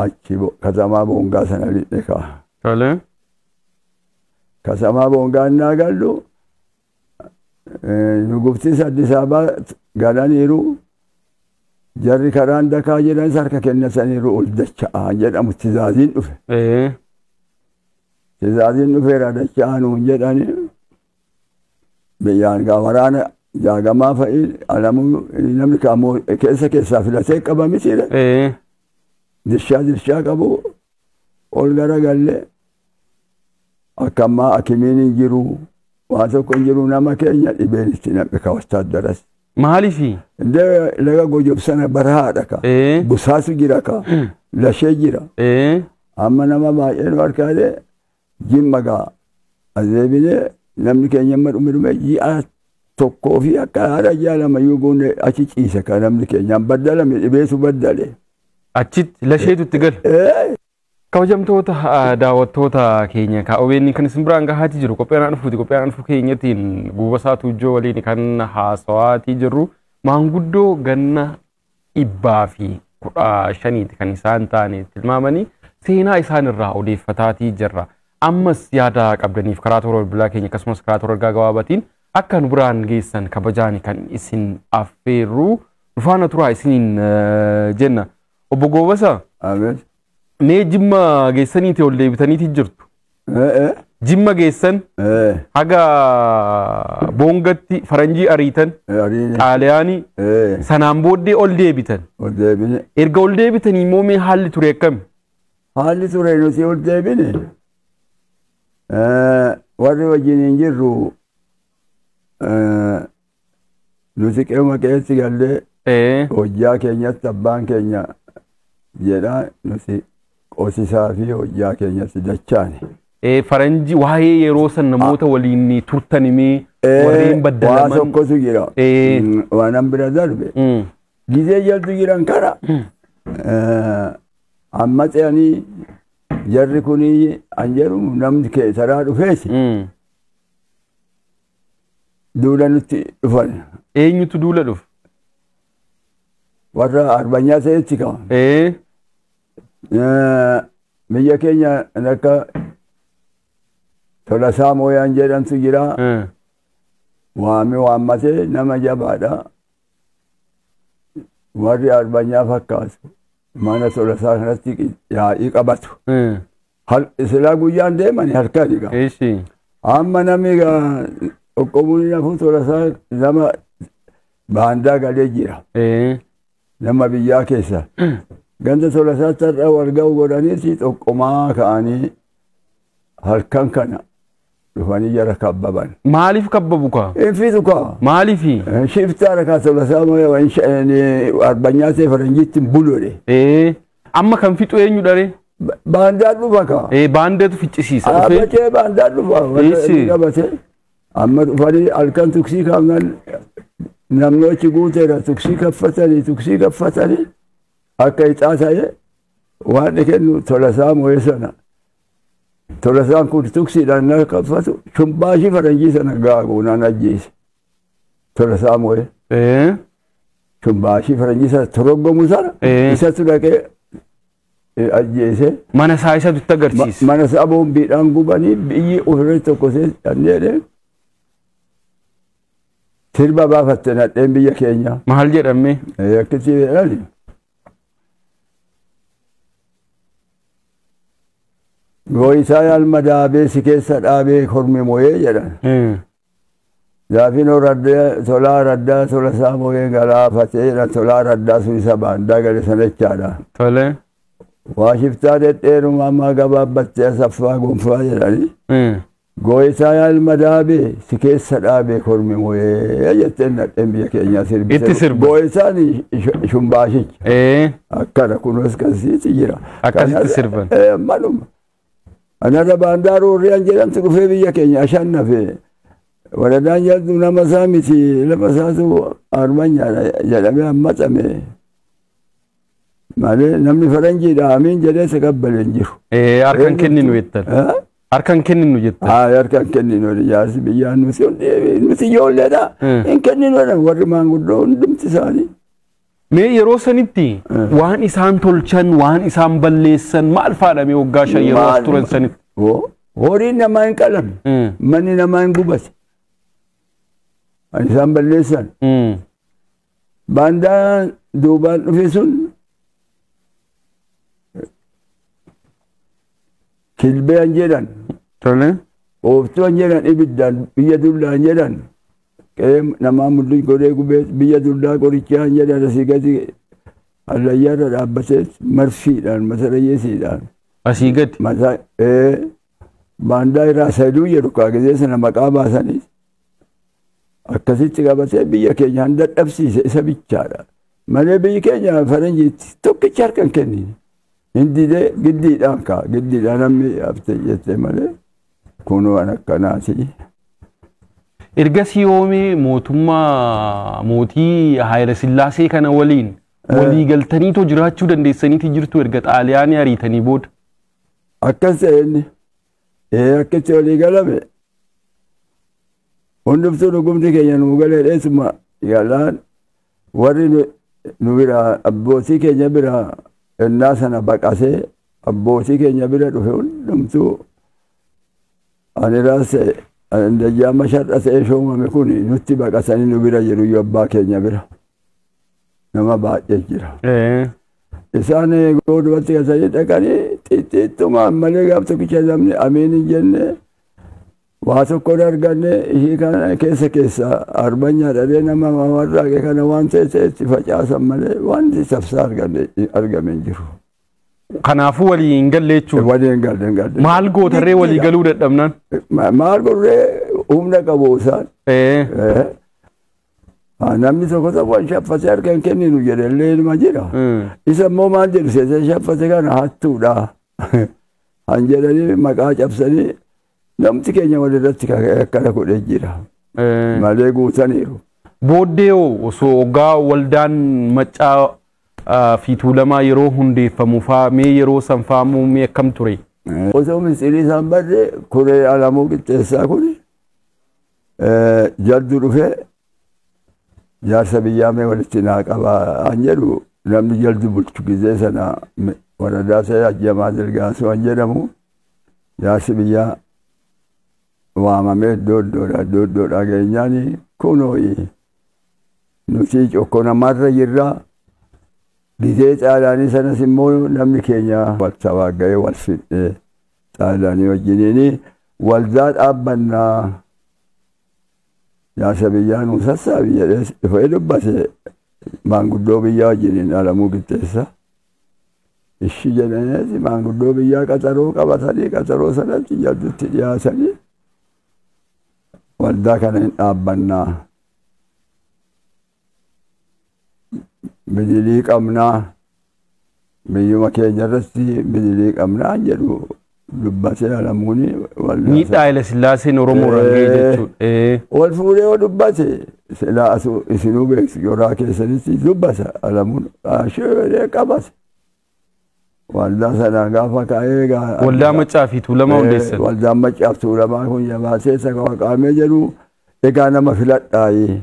achi bo- katamaa boongaa sana lixne kaa. Tole. Katamaa boongaa innaa gallu eh, nuguftis Addis Ababaa galaniiru jarri karaan dakaa jedhanis harka kennataniiru ol dacha'aa jedhamu tizaaziin dhufe. Ee. Tizaaziin dhufeera dacha'aa nuun jedhani Biyyaan gaa waraana jaagamaa fa'i alamuu namni kaamoo keessa keessaa filatee qaba mitiire Ee. dirshaa dirshaa qabu ol gara galle akka ammaa akimiin hin jiru waa tokko hin jiru nama keenya dhibeen itti naqe ka wattaaddaras. Maaliifi? Indee laga gojob sana barahaadha ka Ee. busaatu jira ka lashee jira Ee. amma nama baay'een harkaalee Jimma gaa as deebine namni keenya amma dhume dhume ji'a tokkoo fi akka haadha ji'a lama yoo goone achi ciise kan namni keenya baddalame dhibeetu baddale. Achitti lasheetu itti gale. Ee, Kabajamtoota ah, daawwattoota keenya ka OBN kan isin biraan gahaati jiru qophiin aan dhufuuti qophiin aan dhufuu keenyatiin guubasaa tuujjoo waliin kan haasawaatii jirru maanguddoo ganna dhibbaa fi kudha shaniiti kan isaan taane tilmaamanii seenaa isaan irraa odeeffataatii jirra. Ammas yaada qabdaniif karaa toora bilbilaa keenya akkasumas karaa toora ergaa gabaabatiin akka nu biraan geessan kabajaani kan isin affeerru dhufaana turaa isiniin eh, jenna. Obbo Goobasa Abeet. Mee jimma geessaniiti ol deebitaniiti jirtu. Jimma geessan haga boongatti faranjii ariitan xaaliyaanii sanaan booddee ol deebitan. Erga ol deebitanii immoo mee haalli ture akkami? Haalli ture nuti ol deebine warri wajjin hin jirru Nuti qe'uma qe'eetti gallee Ee. hojjaa keenyatti abbaan keenya jedha nuti qosisaa fi hojjaa keenyatti dachaane. Ee, Faranji waa'ee yeroo san namoota waliin turtanimee warreen Waa baddalaman. tokkotu jira. Ee. Mm, Waanan bira darbe. Mm. Gizee jaltu jiran kara. Eh, Amma ce'anii jarri kunii an jedhu namni keessaraa dhufeesi. Mm. duula nutti dhufan Eenyutu duula dhufe? warra arbanyaa ta'etti kama. Ee, Eh, Biyya keenya kan akka Tolasaa Mooyaan jedhamtu jira. eh, Waami waammatee nama jabaadha. Warri arbanyaa fakkaatu mana Tolasaa kanatti yaa'ii qabatu. eh, Hal- Silaa guyyaan deemani halkani gaa. Eeshi. Amma namni gaa qoqqobuun hin hafu tola isaa nama baandaa galee jira. Ee. Nama biyyaa keessa. Ganda tola isaa tarra wal ga'u godhaniiti qoqqomaa ka'anii halkan kana dhufanii jara kabbaban. Maaliif kabbabu kaa? Infitu kaa. Maaliifi? Shiftaa rakaa tola isaa arbanyaa ta'e faranjiitti hin bulole. Ee. Amma kan fixu eenyudha ree? Ba- Baandaan dhufa kaa. Ee baandeetu ficcisiisa dhufee. Dhaabbatee baandaan dhufa. Warra Eessi. inni qabate. Amma dhufanii halkan tuksii kaafnan namnoochi guuteera tuksii kaffatanii tuksii kaffatanii akka ixaa ta'e waan inni kennu tolasaa moo'ee sana. Tolasaan kun tuksiidhaan na kaffatu shubbaashii faranjii sana gaaguunaan ajjeese. Tolasaa Moo'ee. Ee. Sun baashii faranjii sana toroggomu sana Ee. isatu dhaqee eh, ajjeese. Mana isaa isa dutti Ma- agarsiise. Mana isaa boombiidhaan gubanii biyyi ofirra tokko seedhee sirba baafatte nadheen biyya keenya. Maal jedhamee? Eh, Akkatti jedhani. Gooyisaa yaalma daabee si keessa dhaabee kormi moo'ee jedhan. Ee. Zaafino Raddee Tolaa Raddaa Tola isaa moo'ee galaafateera Tolaa Raddaa sun isa baandaa gale sana jechaadha. Tole. Waa shiftaa dhedheeruma ammaa gabaabbattee asaffaa gonfaa jedhani. Eh. Gooyitaa yaa ilma daabee si keessa dhaabee kormi moo'ee jetteen nadheen biyya keenyaa sirbite. Itti sirba. Gooyitaan sh- shumbaashicha. Eh. akkana kunuus kansiiti jira. Akkasitti Kana- sirban. Eh, Manuma. Anaga baandaa roorriyaan jedhamtu dhufee biyya keenya ashaan nafe. Waradaan jalduu nama isaa miti lafa isaatu armanyaadha jedhamee hammatame. Malee namni faranjiidha amiin jedhee isa qabbale hin jiru. Eh, Harkan kenninu jettan. Eh? Harkan kenninu jettan. Haa harkaan kenninu jaarsi biyyaa nuti hundi nuti ijoolleedha. Hmm. Hin kenninu jedhan warri maanguddoo hundumti isaanii. Mee yeroo sanitti waan isaan tolchan, waan isaan balleessan maal faadha mee waggaa shan yeroo as turan sanitti? Horiin namaa hin qalame. Manni namaa hin gubate. Waan isaan balleessan. Baandaan duubaan dhufe sun kilbeen jedhan. Tolee. Ooftuun jedhan ibiddaan biyya dullaan jedhan. Qe'ee namaa mul'is godhee gubees biyya duldaa qorichaan jedhan asii gadi hallayyaarra dhaabbatees marsiidhaan matarayyeesiidhaan. Asii gadi. Mataa ee baandaa irraa sayduu jedhu kaa gizee sana maqaa baasaniis akkasitti qabatee biyya keenya han dadhabsiise isa bichaadha. Malee biyyi keenya faranjiitti tokkicha harka hin kennine. Hin didee giddiidhaan kaa giddiidhaan namni haftee jettee malee kun waan akkanaati. Ergasii yoomee mootummaa mootii Haayila Sillaasee kana waliin Eh. walii galtaniitoo jiraachuu dandeessaniiti jirtu erga xaaliyaanii ariitanii booda. Akkas ta'e inni ee akkatti walii galame hundumtuu dhugumti keenya nuu galee dheessuma yaalaan Warri nu biraa abbootii keenya biraa ennaa sana baqatee abbootii keenya bira dhufe hundumtuu ani raas ta'e ani dajjaamma shar'a ta'ee shoomame kun nutti baqatanii nu bira jiru iyyuu abbaa keenya bira nama baay'ee jira. Eh. Isaan goodumatti kasanii dhaqanii xixiqquma ammalee gaaf tokkicha namni ameen hin jenne Waa tokko hin arganne ishii kana keessa keessa arbanyaa dhabee nama warraaqe kana waan ta'e ta'etti facaasan malee wanti tafsaa arganne argame hin jiru. Kanaafuu walii hin galle jechuudha. Walii hin galle hin galle. Maal gootarree walii galuu dadhabnaan? Ma- Maal godhuree humna qabu isaan. Ee, Eh. Ah, Namni tokko tokko hin shaffate harka hin kenninu jedhe illee ilma jira. mm, Isa immoo maal jedhu seesee shaffate kana hattuudha. Han jedhanii maqaa cabsanii Namti keenya walirratti akkana godhee jira. Malee guutaniiru. Booddee hoo osoo oggaa waldaan maccaa ah, fi tuulamaa yeroo hundeeffamu faa mee yeroo san faa immoo mee akkam ture? Osoo mistirii isaan barre kuree alamuu qixxeessaa kun jaddu dhufee jaarsa biyyaa mee walitti naa qabaa an jedhu namni jaldu bulchu gizee sana waradaa isaa ajjamaa dirgaasuu an jedhamu Jaarsi biyyaa waamamee iddoo iddoodhaa iddoo iddoodhaa geenyaani kunooyi nuti cokko namaarra jirra gizee xaalaanii sanas immoo namni keenya wal tawaaga'ee wal fidhee xaalaanii wajjiniini waldaa dhaabbannaa jaarsa biyyaa nu sassaabi jedhee dhufee dubbate maanguddoo biyyaa wajjiniin alamuu qixxeessa. Ishi jedhaniiti maanguddoo biyyaa qaxaroo qabatanii qaxaroo sanatti jaddutti dhiyaatanii waldaa kana hin dhaabbannaa. Bidilii qabnaa biyyuma keenya irratti bidilii qabnaa jedhu Dubbate namoonni waldaa. Miidhaa Haile Sillaaseen Oromoo irraan ga'e jechuudha. Ee. Wal fuudhee yoo dubbate silaa asu isinuu beektu yoraa keessanitti dubbata alamuun ashee qabate. Waldaa sanaa gaafa ka'ee gaa. Waldaa Maccaa fi Tuulamaa Eh, hundeessan. Waldaan Maccaa fi Tuulamaa kun jabaatee isa qaqqaamee jedhu egaa nama filadhaayi.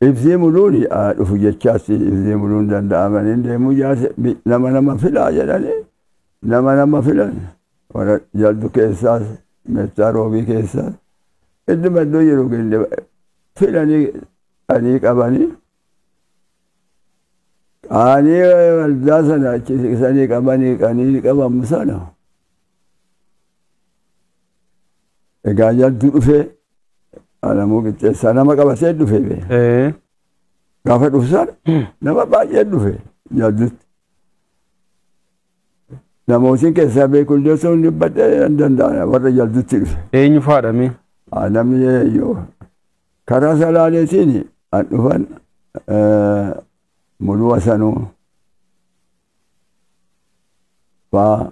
Ibsii muluuni haa dhufu jechaatti ibsii muluun danda'amanii deemuu jaarsa bi- nama nama filaa jedhanii Nama nama filan warra jaldu keessaas meettaa roobii keessaas idduma iddoo jiru gende filanii anii qabanii qaanii waldaa sana achi siqsanii qabanii qanii qabamu sana egaa jaldu dhufee alamuu qixxeessaa nama qabatee dhufe bee Ee. gaafa dhufsan nama baay'ee dhufe jaldutti Nama isin keessaa beeku illee osoo hin dubbadhe nan danda'a warra jaldutti dhufe. Eenyu faadha mee? Haa namni yoo karaa salaaleetiin an dhufan eh, muluu asanuu faa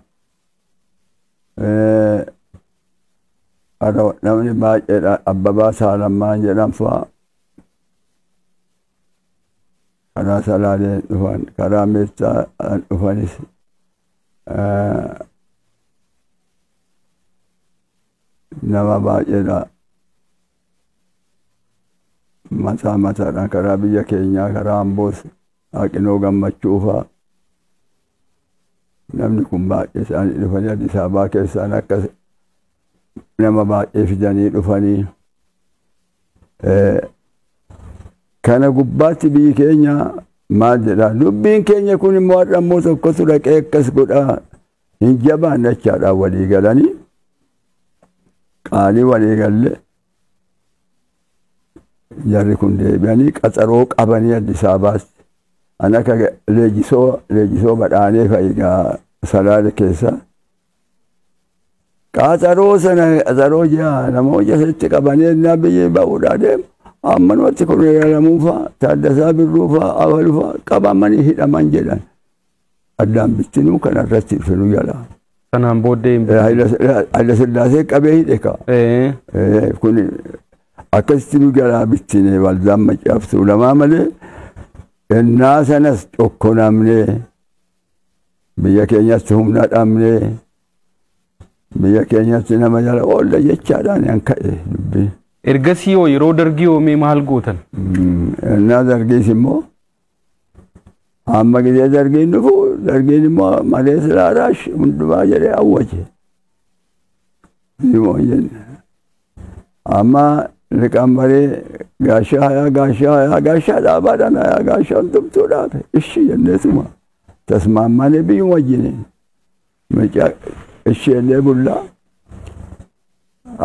eh, har'a namni baay'eedha abbabaa saalammaan jedhan faa karaa salaalee dhufan karaa meettaa dhufanis nama baay'eedha mataa mataadhaan karaa biyya keenyaa karaa amboos haqinoo gammachuu faa namni kun baay'ee isaanii dhufanii Addis Ababaa keessaan akka nama baay'ee fidanii dhufanii Kana gubbaatti biyyi keenya maal jedha dubbiin keenya kun immoo har'a immoo tokkotu dhaqee akkas godhaa hin jabaan jechaadhaan walii galanii qaalii walii galle jarri kun deebi'anii qaxaroo qabanii Addis Ababaatti an akka leejisoo leejisoo badhaanee fa'igaa salaale keessa Qaxaroo sana qaxaroo ji'a lama hojja sanitti qabanee innaa biyyi ba'uudhaa deemu. Amma namatti kun ilaalamuu fa'a, Taaddasaa Birruu fa'a, Abalu fa'a qabamanii hidhaman jedhan. Addaan bittinuu kana irratti ibsinu jala. Sanaan booddee hin Hayila Sillaasee qabee hidhe kaa. Eh, Eh, kun akkasitti nu jalaa bittine waldaan macaaftuu lamaa malee ennaa sanas tokko namnee Biyya keenyatti humna dhabnee biyya keenyatti nama jala oolla jechaadhaan an ka'e dubbii. Ergasii hoo yeroo dargii hoomee maal gootan? Ennaa dargiis immoo amma gidee dargiin dhufu dargiin immoo malee silaa raash hundumaa jedhee awwaje. Ni moo hin jenne. Amma liqaan baree gaashaa hayaa gaashaa hayaa gaashaa dhaabaadhaan hayaa gaashaa hundumtuu dhaabe ishii jenneetuma tasmaammaanee biyyuma wajjini mucaa ishii illee bullaa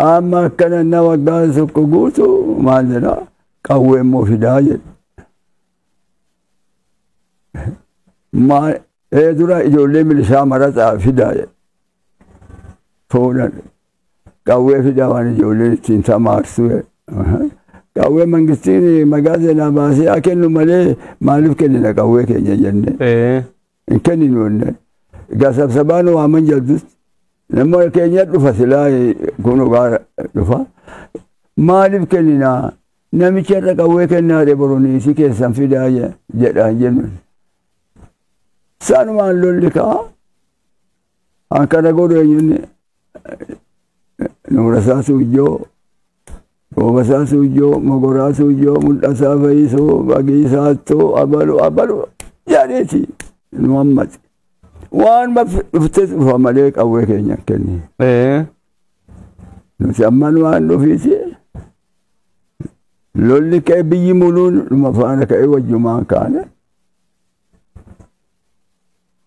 amma akkana na waggaa tokko guutu maal jedha qawwee immoo fidaa jedhe maal ee dura ijoollee milishaa marataa fidaa jedhe fuudhan Qawwee fidaa waan ijoolleen ittiin tamaartu. Qawwee mangistiin magaa seenaa baasee haa kennu malee maaliif kennina qawwee keenya jennee. Hin kenninu jennee. Egaa sabsabaan waaman jaldutti. Nama keenya dhufa silaa kun dhugaa dhufa. Maaliif kennina namicha irra qawwee kennaa dhe boroniisii keessan fidaa jedhaan jennu. Saanumaan lolli ka'a. Akkana godhu eenyuun nuurasaa suujjoo roobasaa suujjoo mogoraa suujjoo mul'asaa fayyisuu bagiisaattuu abalu abalu jedheeti nu hammate waan dhufte dhufa malee qawwee keenya kenni nuti amman waan dhufiiti lolli ka'e biyyi muluun dhuma faana ka'e wajjumaan kaane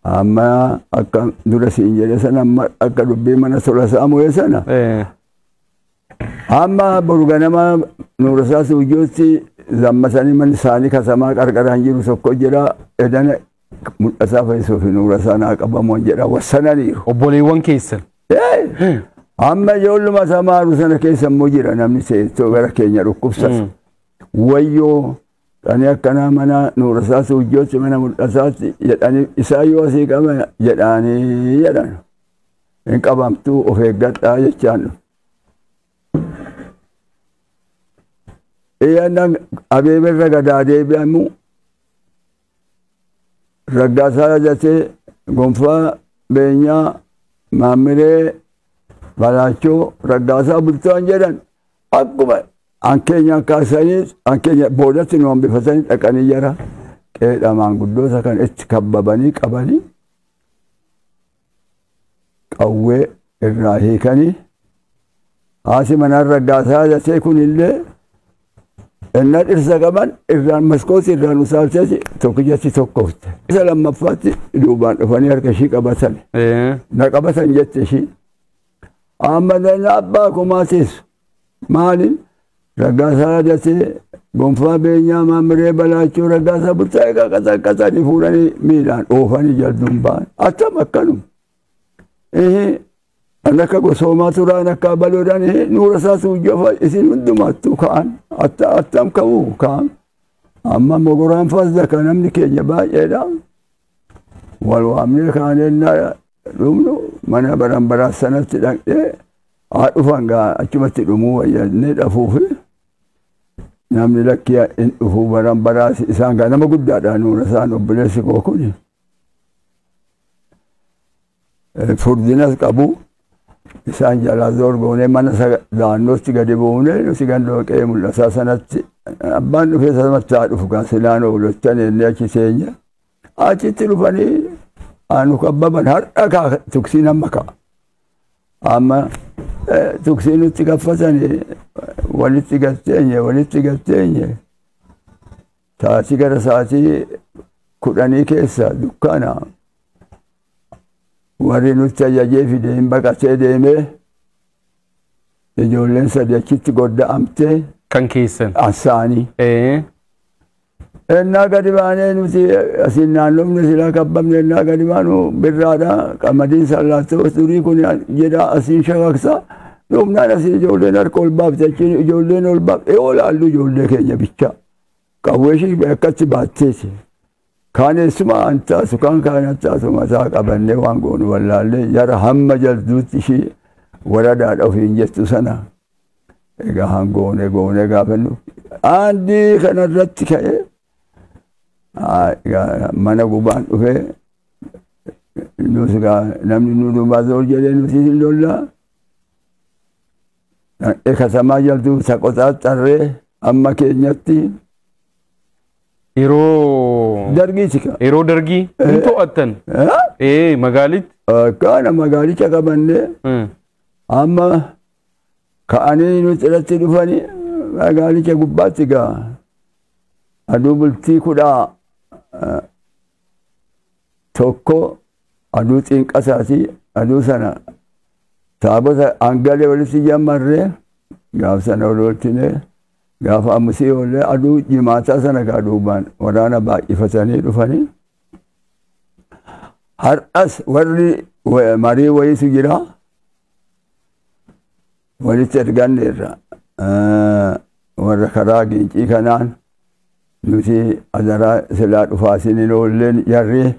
Amma akka dura siin jedhe sana amma akka dubbii mana tola saamu'ee sana Eh, amma boru ganama nuurasaa suujjootti zammasanii manni isaanii kasamaa qarqaraan jiru tokko jira edana mul'ataa fayyisuu fi nuurasaa naa qabamuun jedha wassananiiru. obboleewwan keessan. Eh! Amma ijoolluma samaaru sana keessa immoo jira namni seettoo gara keenya dhukkubsatu. Wayyoo Ani akkanaa mana nuurasaa suujjootti mana mul'asaatti jedhanii isaa yoo asii qaba jedhaanii jedhan hin qabamtuu of eeggadhaa jechaan dhufe. Iyyannan abeeberra gadaa deebi'amu raggaasaa yadatee gonfaa beenyaa maammilee balaachoo raggaasaa bultoon jedhan Akkuma an keenyaan kaasaniis an keenya boodatti nu hambifatanii dhaqanii jara qeedha maanguddoota kan itti kabbabanii qabanii qawwee irraa hiikanii haati manaan raggaasaa jatee kun illee innaa dhirsa qaban irraan maskooti irraan usaalteeti tokkichatti tokkofte. Isa lammaffaatti duubaan dhufanii harka ishii qabatan. Na qabatan jette ishii. Amma dana abbaa kumaa teessu. Maali? Raggaasaa Radatee, Gonfaa Beenyaa, Maamiree Balaachoo, Raggaasaa Bulchaa egaa qaxaqqaxanii fuudhanii miidhaan oofanii jalduun ba'an. Attam akkanum. An akka gosoomaa turaan akka abaloodhaan nuura isaa suujjafa isin hundumaattuu ka'an. Attam ka'u ka'an. Amma mogoraan faas daka namni keenya baay'eedha. Wal waamnee kaanee dhumnu mana baranbaraa sanatti dhaqnee haa dhufan gaa achumatti dhumuu wayyannee dhafuufi namni lakkii hin dhufu baranbaraa isaan gaa nama guddaadha nuuna isaan obboleessi koo kun furdinas qabu isaan jalaa zorgoonee mana daannootti gadi buunee nuti gandoo qe'ee mul'ataa sanatti abbaan dhufee sanatti haa dhufu gaa silaan oolottan ennee achi teenya Achitti dhufanii aanu kabbaban har'a kaa tuksiin amma ka'a. Amma tuksii nutti gaffatanii walitti gatteenye walitti gatteenye sa'aatii gara sa'aatii kudhanii keessa dukkaana warri nutti ajajee fide hin baqatee deemee ijoolleen sadii achitti godda'amtee Kan keessan. ansaanii. Eh. Ennaa gadi baanee nuti asiin naannofne silaa kabbamne ennaa gadi baanu birraadha qamadiin sallaattoo durii kun jedha asiin shakaksa dhumnaan asii ijoolleen harka ol baafte achiin ijoolleen ol baafte yoo laallu ijoollee keenya bichaa qawwee ishii akkatti baatteeti kaan eessuma an taasu kaan kaan an taasu mataa qabannee waan goonu wallaallee jara hamma jalduutti ishii waradaadha ofiin jettu sana Egaa haan goonee goonee gaafannu aandii kana irratti ka'ee mana gubaan dhufee nus egaa namni nu duubaa zoor jedhee nuti hin lollaa dhaqee katamaa jaltu isa qoxaaxxarree amma keenyatti Yeroo dargiiti ka. yeroo dargii hin to'attan. Ee magaalitti. Akkaana magaalicha qabannee Eh, amma ka'anii nuti irratti dhufanii magaalicha gubbaatti gaa aduu bultii kudha tokko aduu xiinqasaati aduu sana taabota hangalee walitti jammarree gaaf sana ol oolchinee gaafa ammusii oollee aduu jimaataa sana gaa duubaan waraana baay'ifatanii dhufanii har'as warri marii wayiitu jira walitti erganneerra warra karaa gincii kanaan nuti adaraa silaa dhufaa isin hin oolleen jarree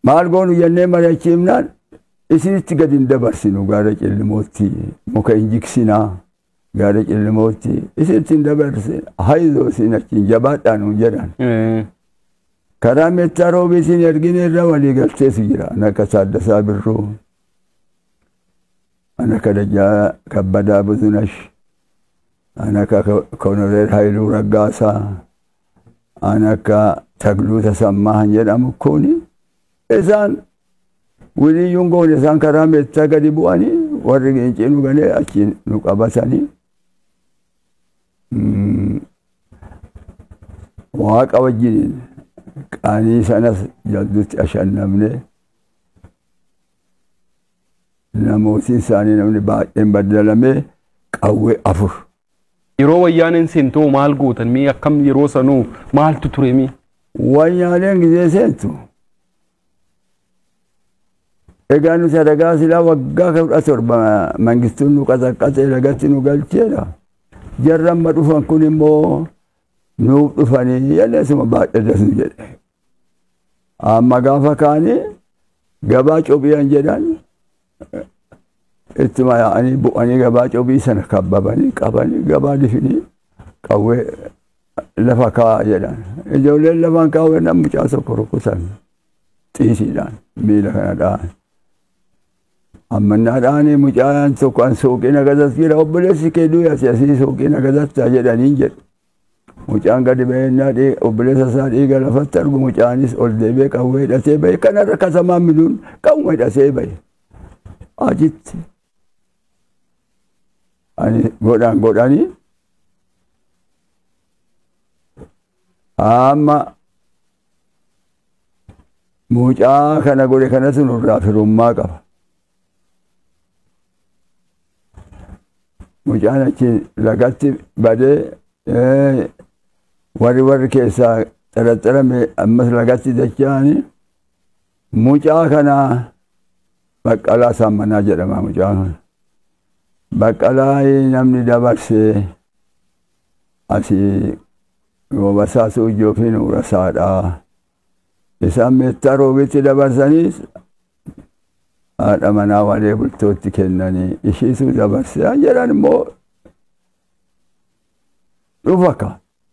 maal goonu jennee mari'achiifnaan isinitti gadi hin dabarsinu gaara cillimootti muka hin jigsinaa Yaada cillimootti isitti hin dabarse haizoo isin achiin jabaadhaa nuun jedhan. Eh, Karaa meettaa roobii isin ergine irra walii galteetu jira. Ana akka Taaddasaa Birruu, ana akka Dajjaa Kabbadaa Buzunash, ana akka Ko- Konoreel Hayiluu Raggaasaa, ana akka Tagluu Tasammaa kan jedhamu kuni isaan Wiliyyuun goone isaan karaa meettaa gadi bu'anii warri gincii nu ganee achiin nu qabatanii mm, waaqa wajjiniin qaanii sanas jaldutti ashannamne namooti isaanii namni baay'een baddalamee qawwee afur Yeroo wayyaaneen seentoo maal gootan mee akkam yeroo sanuu maaltu ture mee? wayyaaneen gizee seentu Egaa nuti adagaa silaa waggaa kudha torba mangistuun nu qasaqqasee lagatti nu galcheera. Jarri amma dhufan kun immoo nuuf dhufanii jennee suma baadhee dasnu jedhe. Amma gaafa kaanii gabaa cobiyan jedhan ittuma yaa'anii bu'anii gabaa cobii sana kabbabanii qabanii gabaa difidii qawwee lafa kaa'aa jedhan. Ijoolleen lafaan kaawwee nan mucaa tokko rukutan xiisiidhaan miila kana dha'an. Ammannaa dha'anii mucaan tokko an suuqiin agarsiis jira obboleessi kee du'e asii asii suuqiin agarsiis jedhanii jedhu. Mucaan gadi bahee innaa dhii- obboleessa isaa dhiiga lafatti argu mucaanis ol deebi'ee qawwee hidhatee bahe kanarra kasamaan miluun qawwee hidhatee bahe achitti ani godhaan godhanii amma mucaa kana godhe kanatu nurraa firummaa qaba mucaan achi lagatti badee warri warri keessaa xaraxarame ammas lagatti dacha'ani mucaa kana baqqalaa saammanaa jedhama mucaa kana baqqalaa namni dabarsee asii basaasuu ijoofiin urasaadhaa Isaan meettaa roobitti dabarsanii haadha manaa walee bultootti kennanii ishiitu dabarse an jedhan immoo dhufa ka.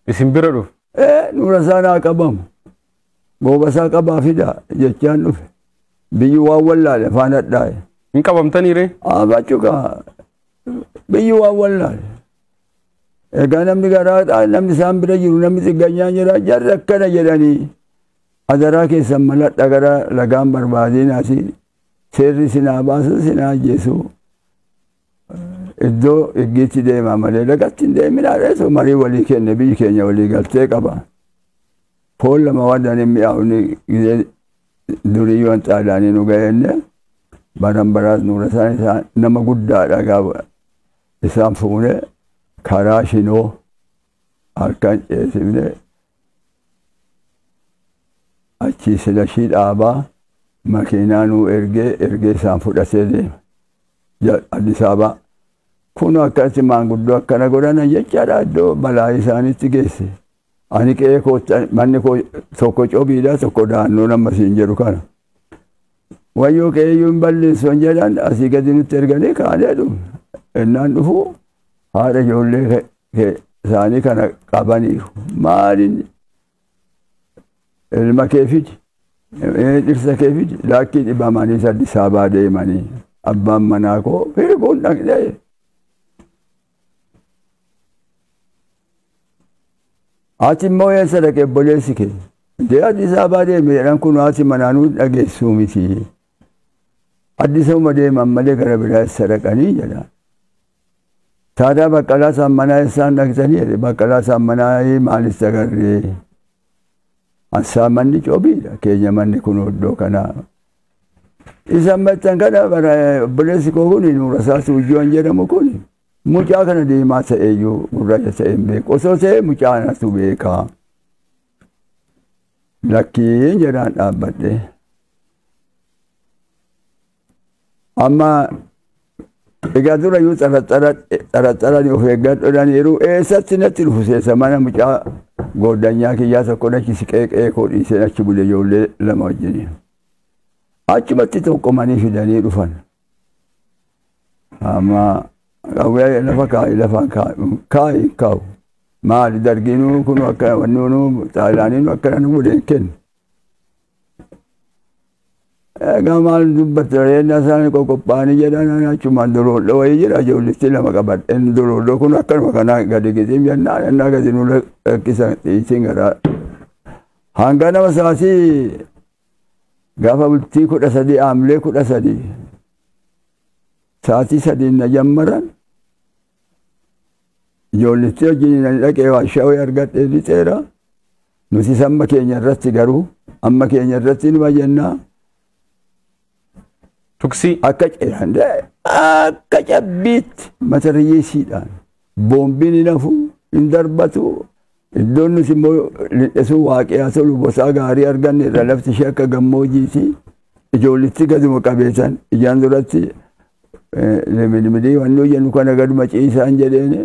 Isin bira dhufu. Ee nuura isaa naa qabamu gooba isaa qabaa fidaa jechaan dhufe biyyi waan wallaale afaan hadhaa'e. Hin qabamtanii ree? Abachuka biyyi waan wallaale. Egaa namni garaadhaa namni isaan bira jiru namni xigganyaan jira jarri akkana jedhanii adaraa keessan maladha gara lagaan barbaadeen asii seerri sinaa baasu sinaa ajjeesu iddoo iggiitti deemaa malee lagatti hin deeminaa reesu marii walii kenne biyyi keenya walii galtee qaba. Foon lama wadan hin mi'aawne gizee durii yoon xaalaanii nu ga'eenne baran baraas nuura isaan nama guddaadha gaafa Isaan fuune karaa shinoo harka hin dheessifne achii silashii dhaabaa makiinaa nuu ergee ergee isaan fudhatee deema. Ja- Addis Ababaa. Kun akkatti maanguddoo akkana godhana jechaadha iddoo balaa isaanitti geesse. Ani qe'ee kootti manni koo tokko cobiidha tokko daannoo nama siin jedhu kana. Wayyoo kee iyyuu hin balleessu hin jedhan asii gadi nutti erganii kaanee dhufu. Ennaan dhufu haadha ijoollee ke- ke- isaanii kana qabaniiru. Maaliin ilma kee fidi? Eh, Dhirsa kee fidi? Laakkii dhibamanii saddi saabaa deemanii abbaan manaa koo hirbuun dhaqnee Ati immoo eessa dhaqe obboleessi kee? Dee Addis Ababaa deeme jedhan kun haati manaanuu dhageessuu miti. Addis Ababaa deeman malee gara biraa eessa dhaqanii jedha. Taadaa baqqalaa saammanaa eessaan dhaqxanii jedhe baqqalaa saammanaa maalis dagarree. Assaamanni cobiidha keenya manni kun oddoo kanaa. Isan machan kana bara obboleessi koo kun nuura isaa suujjoon jedhamu kun mucaa kana deemaa ta'eeyyuu gurraacha ta'e hin beeku. Osoo ta'e mucaa anatu beeka. Lakkiin jedhaan dhaabbadhe. Amma egaa dura iyyuu xaraxarani of eeggadhodhaniiru eessatti natti dhufu seesa mana mucaa gooddanyaa kiyyaa tokko nachi siqeeqee koo dhiisee achi bule ijoollee lama wajjiniin. Achumatti tokkomanii fidanii dhufan. Amma qawwee lafa kaa'i lafa kaa'i kaa'u. Maali dargiinuu kun akka wannuunuu xaaliyaaniinuu akkana nu godhe hin kennu. Egaa maal dubbatte reennaa isaanii qoqophaa'anii jedhan achumaan doloodha wayii jira ijoollitti lama qabadhe doloodha kun akkanuma kanaa gadi gixiim jennaan ennaa gadi nu lakkisan dhiitiin garaa Hangaa nama sa'aatii gaafa bultii kudha sadii aamlee kudha sadii sa'aatii sadiin na jammaran ijoolletti wajjin ani dhaqee waashawee argadhee lixeera. Nutis amma keenya irratti garuu amma keenya irratti nima jennaa. Tuksii. Akka akka cabbiitti mata riyyeessiidhaan boombiin hin hafu hin darbatu iddoon nuti immoo lindhesuu waaqiyaa tolu bosaa gaarii arganne irra lafti ishee akka gammoojiiti ijoollitti gaduma qabeetan ijaan duratti limidimidii wanni hojjennu kana gaduma ciisaan jedheeni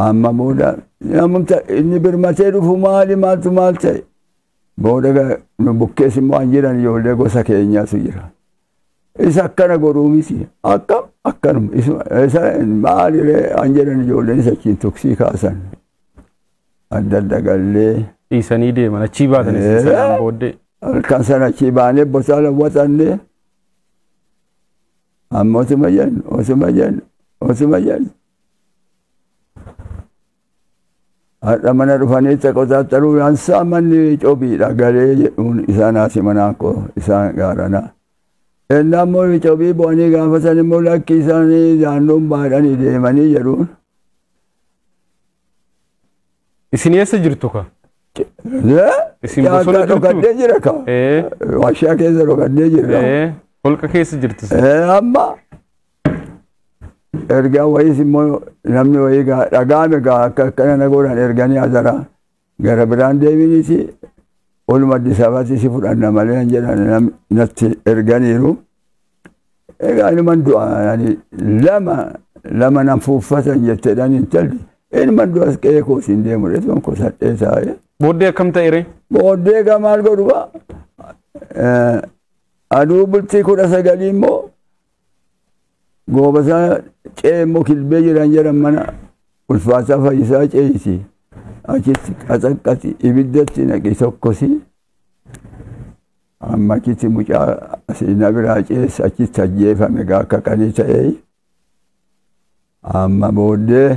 amma booda namumta inni birmatee dhufu maali maaltu maal ta'e Booda nu bukkees immoo an jedhan ijoollee gosa keenyaatu jira. Isa akkana godhuu miti. Akkam akkanuma. Isa maaliree an jedhan ijoolleen isa achiin tuksii kaasan. Adda adda gallee. Dhiisanii deeman achii baatan isin sanaan booddee. Halkan sana achii baanee bosaa lawwaxannee. Amma osuma jennu osuma jennu osuma jennu. Har'a mana dhufanii taqotaattaruu yaansaa manni cobiidha galee jedhuun isaan haati manaa koo isaan gaarana. Ennaa immoo cobii bu'anii gaafatan immoo lakki isaanii daannoon baadhanii deemanii jedhuun. Isin eessa jirtu ka? Isin bosona Jaartaa jirtu? dhokadhee jira ka. Ee, Warshaa keessa dhokadhee jirra. ee, holqa keessa jirtu. isin. Eh, Amma ergaa wayiis immoo namni wayii gaa dhagaame gaa akka akkana na godhan erganii azara gara biraan deeminiti oluma Addis Ababaatti si fudhanna malee hin jedhan nam- natti erganiiru. Egaa inuman du'a ani lama lama nan fuuffatan jetteedhaan intalli inuman du'a qe'ee koos hin deemu jedhu koo sadhee taa'ee. Booddee akkam ta'e ree? Booddee egaa maal godhu gaa? Eh, Aduu bultii kudha sagalii immoo Goobasaa ce'ee immoo kilbee jiran jedhan mana ulfaataa fayyisaa ce'isi. Achitti qaxaqqati ibiddatti naqi tokkosi. Amma achitti mucaa asii na biraa ce'es achitti ajjeefame gaa akka qalii ta'ee. Amma booddee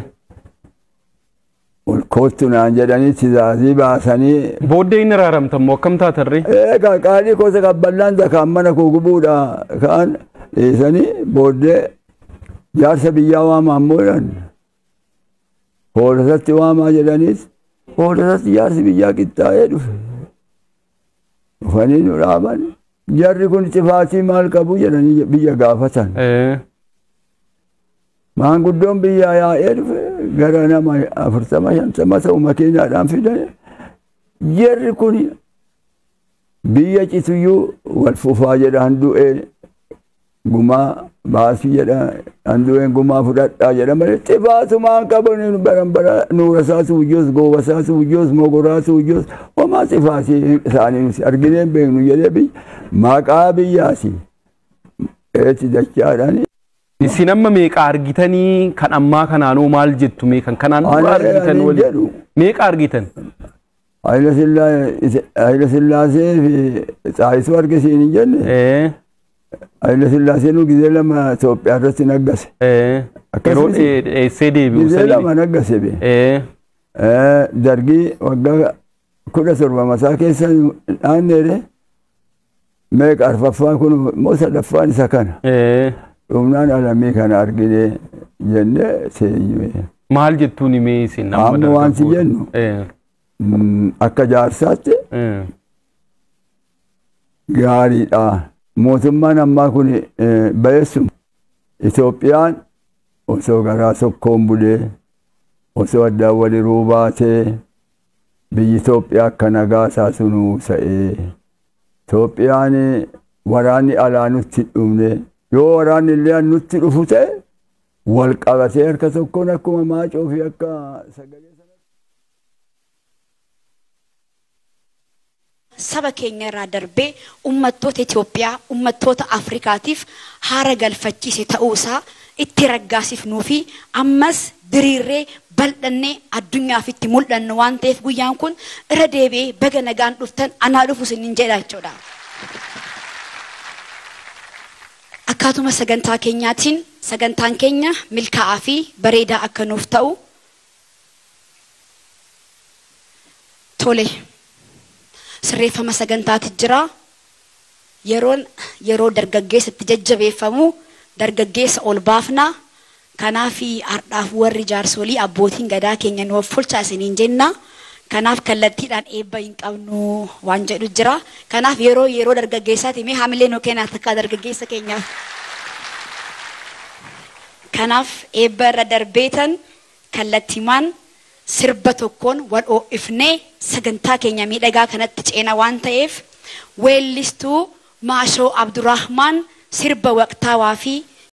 Ol koottu naan jedhanii tizaazii baasanii. Booddee hin araaramtan moo akkam taatan ree? Eegaa qaalii koo isa qabballaan zakaan mana koo gubuudha ka'an dhiisanii booddee jaarsa biyyaa waamaa ammoo jedhan. Hoolasatti waamaa jedhaniis hoolasatti jaarsi biyyaa qixxaa'ee dhufe. Dhufanii nu dhaaban jarri kun cifaatii maal qabu jedhanii biyya gaafatan. Ee. Maanguddoon biyyaa yaa'ee dhufe gara nama afurtama shantama ta'u makiinaadhaan fidan jarri kun biyya cituyyuu wal fufaa jedhaan du'ee Gumaa baasii jedha handuween gumaa fudhadhaa jedha malee itti baasumaan qaban baran bara nuurasaa suujjoos goobasaa suujjoos mogoraa suujjoos homaa sifaasii isaanii nuti argineen beeknu jedhee biyya maqaa biyyaasi eetti dachaadhaan Isin amma meeqa argitanii kan ammaa kanaanoo maal jettu mee kan kanaan dura Ani- argitan ani waliin jedhu. meeqa argitan? Hayila Sillaasee fi Xaayisuu arge siin hin jenne. Ee, Hayila Sillaaseen gizee lama Itoophiyaa irratti naggase. ee, Akkasii yeroo si- dhee- dheessee deebi'u Gizee saniin. lama naggase bee. Ee, Dargii waggaa kudha torba masaa keessa dhaanneere Meeqa arfaffaan kun immoo sadaffaan isa kana. Ee, Dhumnaan alamii kana argine jennee teenyume. Maal jettuun himee isin Amma amma waan si dargaggoota? jennu. Ee, Mm, Akka jaarsaatti ee, gaariidha. Mootummaan ammaa kun eh, bayeessuma. Itoophiyaan osoo garaa tokkoon bulee, osoo addaan waliruu baatee, Biyyi Itoophiyaa akka nagaa taatu nu ta'e. Itoophiyaan waraanni alaa nutti hin dhufne. Yoo waraanni illee nutti dhufu ta'e wal qabatee harka tokkoon akkuma maacoo fi akka sagalee saba keenya irraa darbee ummattoota Itoophiyaa, ummattoota Afrikaatiif haara galfachiise ta'uu isaa itti raggaasifnuu fi ammas diriirree, bal'annee addunyaaf itti mul'annu waan ta'eef guyyaan kun irra deebi'ee baga nagaan dhuftan anaa dhufu isiniin jedha jechuu dha. Akkaatuma sagantaa keenyaatiin sagantaan keenya milkaa'aa fi bareedaa akka nuuf ta'u Tole. Sirreeffama sagantaati jira. Yeroon yeroo dargaggeessa itti jajjabeeffamu dargaggeessa ol baafna. Kanaaf hardhaaf warri jaarsolii abbootiin gadaa keenya nu offolchaa isiniin jenna. Kanaaf kallattiidhaan eebba hin qabnu waan jedhu jira. Kanaaf yeroo yeroo dargaggeessaati mee hamilee nu kennaa takkaa dargaggeessa keenyaaf. Kanaaf eebba irra darbeetan Kallattiimaan sirba tokkoon wal oo'ifnee sagantaa keenya miidhagaa kanatti ceena waan ta'eef weellistuu Maashoo Abdurahmaan sirba waqtaawaa fi